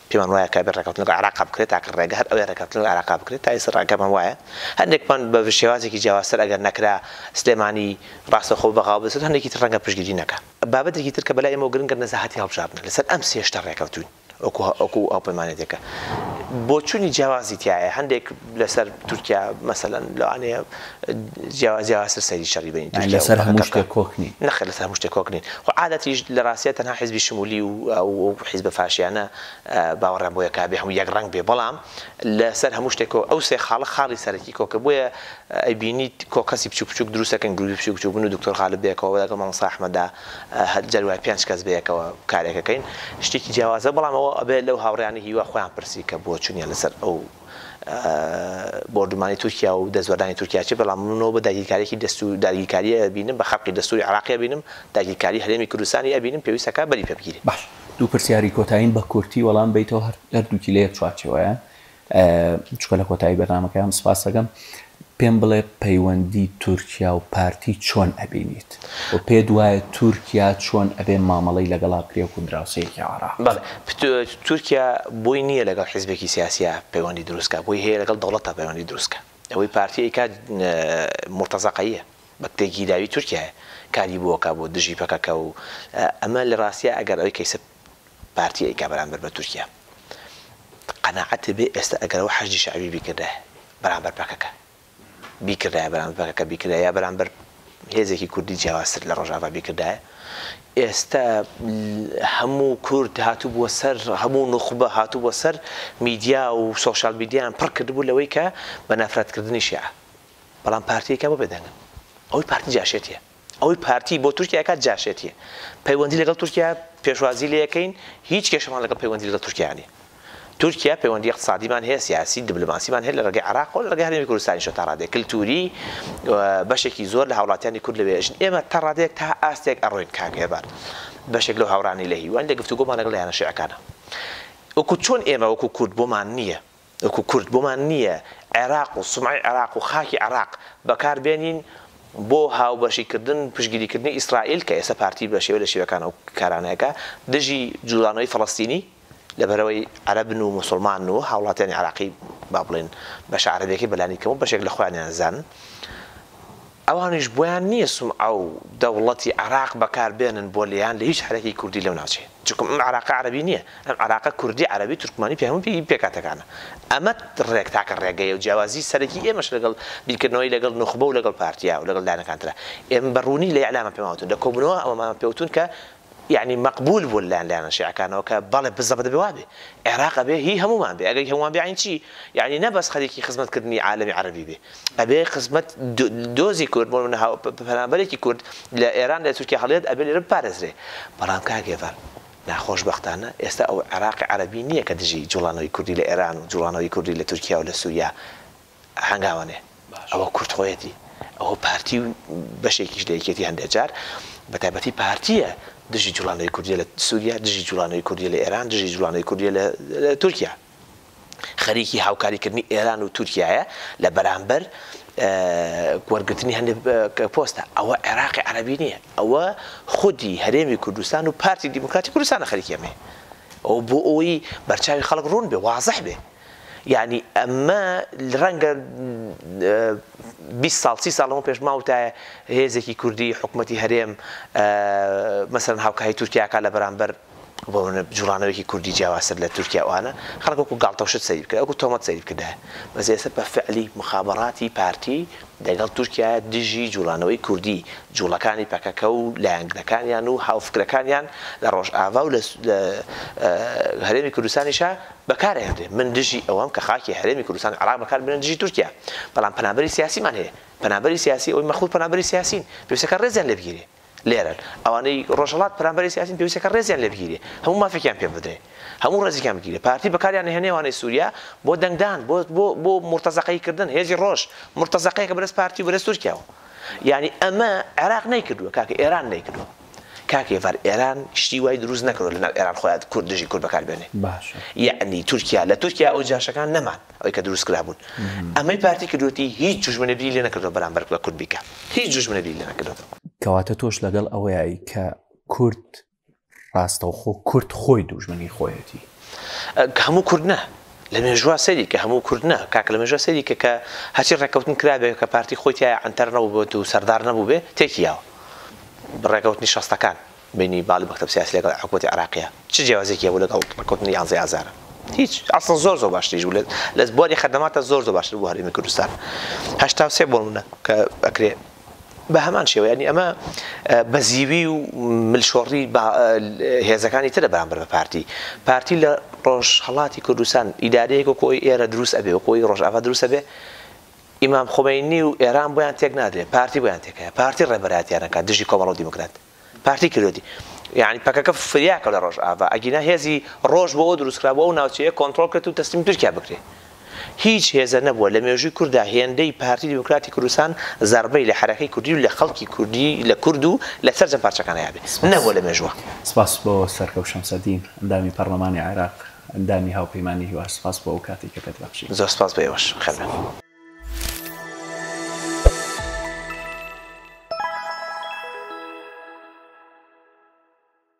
پێمان وایە کابێت ڕێکەوتن لەگەڵ عێراقا بکرێت، تاکە ڕێگە هەر ئەوەیە ڕێکەوتن لەگەڵ عێراقا بکرێت، تا ئێستا ڕەئکەمان وایە، هەندێکمان بە شێوازێکی جیاوازتر ئەگەر نەکرا سلێمانی ڕاستەوخۆ بەغاو بسێت، هەندێکی تر ڕەنگە پشتگیری نەکا. بابەتێکی تر کە بەلای ئێمەوە گرنگە نەزەهەتی هەڵبژاردنە، لەسەر ئەم سێ شتە ڕێکەوتووین وەکو هاوپەیمانێتێکە، بۆچوونی جیاوازی تیایە، هەندێک. لەسەر تورکیا مەسەلەن لەوانەیە جیاواز جیاوازتر سەیری شەڕی بەینی تورکیا و پەکەکە. لەسەر هەموو شتێک کۆک نین. نەخێر لەسەر هەموو شتێک کۆک نین. خۆ عادەتیش لە ڕاستیا تەنها حیزبی شمولی و ئەو حیزبە فاشیانە باوەڕیان بۆ یەکا بێ هەموو یەک ڕەنگ بێ بەڵام لەسەر هەموو شتێک کۆ ئەو سێ خاڵە خاڵی سەرەکی کۆکە بۆیە ئەیبینیت کۆ کەسی بچوک بچوک دروست ئەکەن گروپی بچوک بچوک من و دکتۆر غالب بەیەکەوە لەگەڵ مامۆستا ئەحمەدا هەر جاری وایە پێنج کەس بەیەکەوە کارێک ئەکەین شتێکی جیاوازە بەڵام ئەوە ئەبێ لەو هاوڕێیانە هیوا خۆیان پرسی کە بۆ چونیان لەسەر ئەو بۆردومانی تورکیا و دەستوەردانی تورکیا چێ بەڵام من نۆبە داگیرکاریەکی دەستو داگیرکاری ئەبینم بە خەرقی دەستوری عراقی ئەبینم داگیرکاری هەرێمی کوردستانی ئەبینم پێویستە کا بەری پێ بگیرێ. باش دوو پرسیاری کۆتاییم بە کورتی وەڵام بەیتەوە هەردووکی لە یەک چوارچێوەیە چونکە لە کۆتایی بەرنامەکەیام سپاست دەکەم پێم بڵێ پەیوەندی تورکیا و پارتی چۆن ئەبینیت و پێت وایە تورکیا چۆن ئەبێ مامەڵەی لەگەڵا بکرێ وەکو دراوسێیەکی عێراق؟ بەڵێ تورکیا بۆی نییە لەگەڵ حیزبێکی سیاسیا پەیوەندی دروست کا بۆی هەیە لەگەڵ دەوڵەتا پەیوەندی دروست کا ئەوەی پارتی ئەیکات مورتەزەقەییە بە کتێ گیراوی تورکیایە کاری بۆ ئەکا بۆ دژی پەکەکە و ئەمە لە ڕاستیا ئەگەر ئەوەی کەیسە پارتی ئەیکا بەرامبەر بە تورکیا قەناعەت هەبێ ئێستا ئەگەر ئەوە حەشدی شەعبی بیکردایە بەرامبەر پەکەکە بیکردایە بەرامبەر پەکەکە بیکردایە یا بەرامبەر هێزێکی کوردی جیاوازتر لە ڕۆژاڤا بیکردایە ئێستا هەموو کورد هاتوبووە سەر هەموو نوخبە هاتوبووە سەر میدیا و سۆشیال میدیایان پڕ کردبوو لەوەی کە بە نەفرەتکردنی شیعە بەڵام پارتیەکە بۆ بێدەنگن ئەوەی پارتی جاشێتیە ئەوەی پارتی بۆ تورکیا ئەکات جاشێتیە پەیوەندی لەگەڵ تورکیا پێشوازی لێ ئەکەین هیچ کێشەمان لەگەڵ پەیوەندی لەگەڵ تورکیا نیە تورکیا پەیوەندی اقتصادیمان هەیە سیاسی دبلۆماسیمان هەیە لە ڕێگەی عێراقەوە لە ڕێگەی هەرێمی کوردستانیشەوە تا ڕادەیەک کلتوری بەشێکی زۆر لە هاوڵاتیانی کورد لەوێ ئەژین ئێمە تا ڕادەیەک تا ئاستێک ئەڕۆین کاک هێڤار بەشێک لەو هاوڕانی لە هیوان لە گفتوگۆمان لەگەڵ یانە شیعەکانە وەکو چۆن ئێمە وەکو کورد بۆمان نییە وەکو کورد بۆمان نییە عێراق و سومعەی عێراق و خاکی عێراق بەکار بێنین بۆ هاوبەشی کردن و پشتگیری کردنی ئیسرائیل کە ئێستا پارتی بە شێوە لە شێوەکان ئەو کارانە ئەکا دژی جوڵانەوەی فەڵەستینی لەبەرئەوەی عەرەبن و موسڵمانن و هاوڵاتیانی عێراقی با بڵێین بەشە عەرەبیەکەی بەلانیکەم و بەشێک لە خۆیانیان زانن ئەوانیش بۆیان نیە سومعە و دەوڵەتی عێراق بەکار بێنن بۆ لێیان لە هیچ حەرەکی کوردی لەو ناوچەیە چونکە ئەم عێراقە عەرەبی نیە ئەم عێراقە کوردی عەرەبی تورکمانی پێ هەموو پێی پێکهاتەکانە ئەمە ڕێک تاکە ڕێگەیە و جیاوازی سەرەکی ئێمەش لەگەڵ بیرکردنەوەی لەگەڵ نوخبە و لەگەڵ پارتیا و لەگەڵ لایەنەکان ترە ئێمە بە ڕوونی لە ئیعلاما پێمان وتون لە کۆبونەوە ئەوەمان پێ وتون کە یەعنی مەقبول بوون لە لایەن شیعەکانەوە کە بەڵێ بزەبە دەبێ وا بێ عێراق ئەبێ هی هەموومان بێ ئەگەر هی هەموومان بێ یەعنی چی یەعنی نە بەس خەریکی خزمەت کردنی عالەمی عەرەبی بێ ئەبێ خزمەت دۆزی کورد بۆ نموونە هاو پەنابەرێکی کورد لە ئێران لە تورکیا هەڵیەت ئەبێ لێرە بپارێزرێ بەڵام کاک هێڤال ناخۆش بەختانە ئێستا ئەو عێراقی عەرەبی نییە کە دژی جووڵانەوەی کوردی لە ئێران و جووڵانەوەی کوردی لە تورکیا و لە سووریا هەنگاوەنێ ئەوە کورد خۆیەتی ئەوە پارتی و بەشێکیش لە یەکێتی هەندێ جار بە تایبەتی پارتیە دژی جوڵانەوەی کوردیە لە سوریا دژی جوڵانەوەی کوردیە لە ئێران دژی جوڵانەوەی کوردیە لە تورکیا خەریکی هاوکاری کردنی ئێران و تورکیایە لە بەرامبەر وەرگرتنی هەندێ پۆستە ئەوە عێراقی عەربی نییە ئەوە خودی هەرێمی کوردستان و پارتی دیموکراتی کوردستانە خەریکی ئەمەیە ئەو بۆ ئەوی بەرچاوی خەڵک ڕوون بێ وازح بێ یەعنی ئەمە رەنگە بیست ساڵ سی ساڵ لەمەو پێش ماوتایە هێزێکی کوردی حکومەتی هەرێم مەسەلەن هاوکاری تورکیا کا لە بەرامبەر بۆ منە جوڵانەوەیەکی کوردی جیاوازتر لە تورکیا وانە خەڵک وەکو گاڵتە و شت سەیری بکرد وەکو تۆمەت سەیری بکردایە بەس ئێستا بە فعلی مخابەڕاتی پارتی دەگەڵ تورکیا دژی جوڵانەوەی کوردی جوڵەکانی پەکەکە و لایەنگرەکانیان و هاوفکرەکانیان لە ڕۆژئاڤا و لە هەرێمی کوردستانیشە بەکار ئەهێنرێ من دژی ئەوەم کە خاکی هەرێمی کوردستان عێراق بەکار بێنن دژی تورکیا بەڵام پەنابەری سیاسیمان هەیە پەنابەری سیاسی ئەوەی مەخمور پەنابەری سیاسین پێویستە کە ڕێزیان لێ بگیرێ لێرەن ئەوانەی ڕۆژهەڵات پەنابەری سیاسین پێویستە کە ڕێزیان لێ بگیرێ هەموو مافێکیان پێ بدرێ هەموو ڕێزێکیان بگیرێ پارتی بەکاریان ئەهێنێ ئەوانەی سووریا بۆ دەنگدان بۆ بۆ بۆ مورتەزەقەیی کردن هێزی ڕۆژ مورتەزەقەیەکە بەرەس پارتی و بەرەس تورکیاوە یانی ئەمە عێراق نەیکردووە کاکە ئێران نەیکردووە. کاک هێڤار ئێران شتی وای دروست نەکردوە لە ناو ئێران خۆیان کورد دژی کورد بەکار بێنێ باشە یەعنی تورکیا لە تورکیا ئەو جاشەکان نەمان ئەوی کە دروست کرابوون ئەمەی پارتی کردوەتی هیچ جوشمنێ بری لێ نەکردوە بەرامبەر بە کورد بیکا هیچ جوشمنێ بری لێ نەکردوە. کەواتە تۆش لەگەڵ ئەوەیی کە کورد ڕاستەوخۆ کورد خۆی دووژمنی خۆیەتی؟ هەموو کورد نا لە مێژووا سەیری کە هەموو کورد نا کاکە لە مێژووا سەیری کە کە هەرچی ڕێککەوتن کرابێ کە پارتی خۆی تیایا عەنتەر نەبووبێت و سەردار نەبووبێ تێکی یاوە ڕێکەوتنی شەستەکان بەینی باڵی مەکتەب سیاسی لەگەڵ حکومەتی عێراقیە چ جیاوازیەکی هەبوو لەگەڵ ڕێکەوتنی یانزەی ئازارە؟ هیچ ئەسڵەن زۆر زۆر باشتریش بوو لە بواری خەدەماتە زۆر زۆر باشتر بۆ هەرێمی کوردستان هەشتا و سێ بۆ منە کە ئەکرێ بە هەمان شێوە ینی ئەمە بەزیوی و ملشۆڕی هێزەکانی ترە بەرامبەر بە پارتی پارتی لە ڕۆژهەڵاتی کوردستان ئیدارەیەک و کۆی ئێرە دروست ئەبێ و کۆی ڕۆژاوا دروست ئەبێ ئیمام خومەینی و ئێران بۆیان تێک نادرێ پارتی بۆیان تێک هەیە پارتی ڕێبەرایەتیان ئەکات دژی کۆمەڵە و دیموکرات پارتی کردۆتی یانی پەکەکە فریا کەو لە ڕۆژئاڤا ئەگینا هێزی ڕۆژ بۆ ئەوە دروست کرا بۆ ئەو ناوچەیە کۆنتڕۆڵ کرێت و تەسلیم تورکیا بکرێ هیچ هێزە نەبووە لە مێژووی کوردا هێندەی پارتی دیموکراتی کوردستان زەڕبەی لە حەرەکەی کوردی و لە خەڵکی کوردی لە کورد و لە سەرجەم پارچەکان هەیابێ نەبووە لە مێژووە. سپاس بۆ سەرکەوت شەمسەدین ئەندامی پەرلەمانی عێراق ئەندامی هاوپەیمانی هیوا سپاس بۆ ئەو کاتەی کە پێت بەخشی. زۆر سپاس بۆ ئێوەش. بەخێر بێن.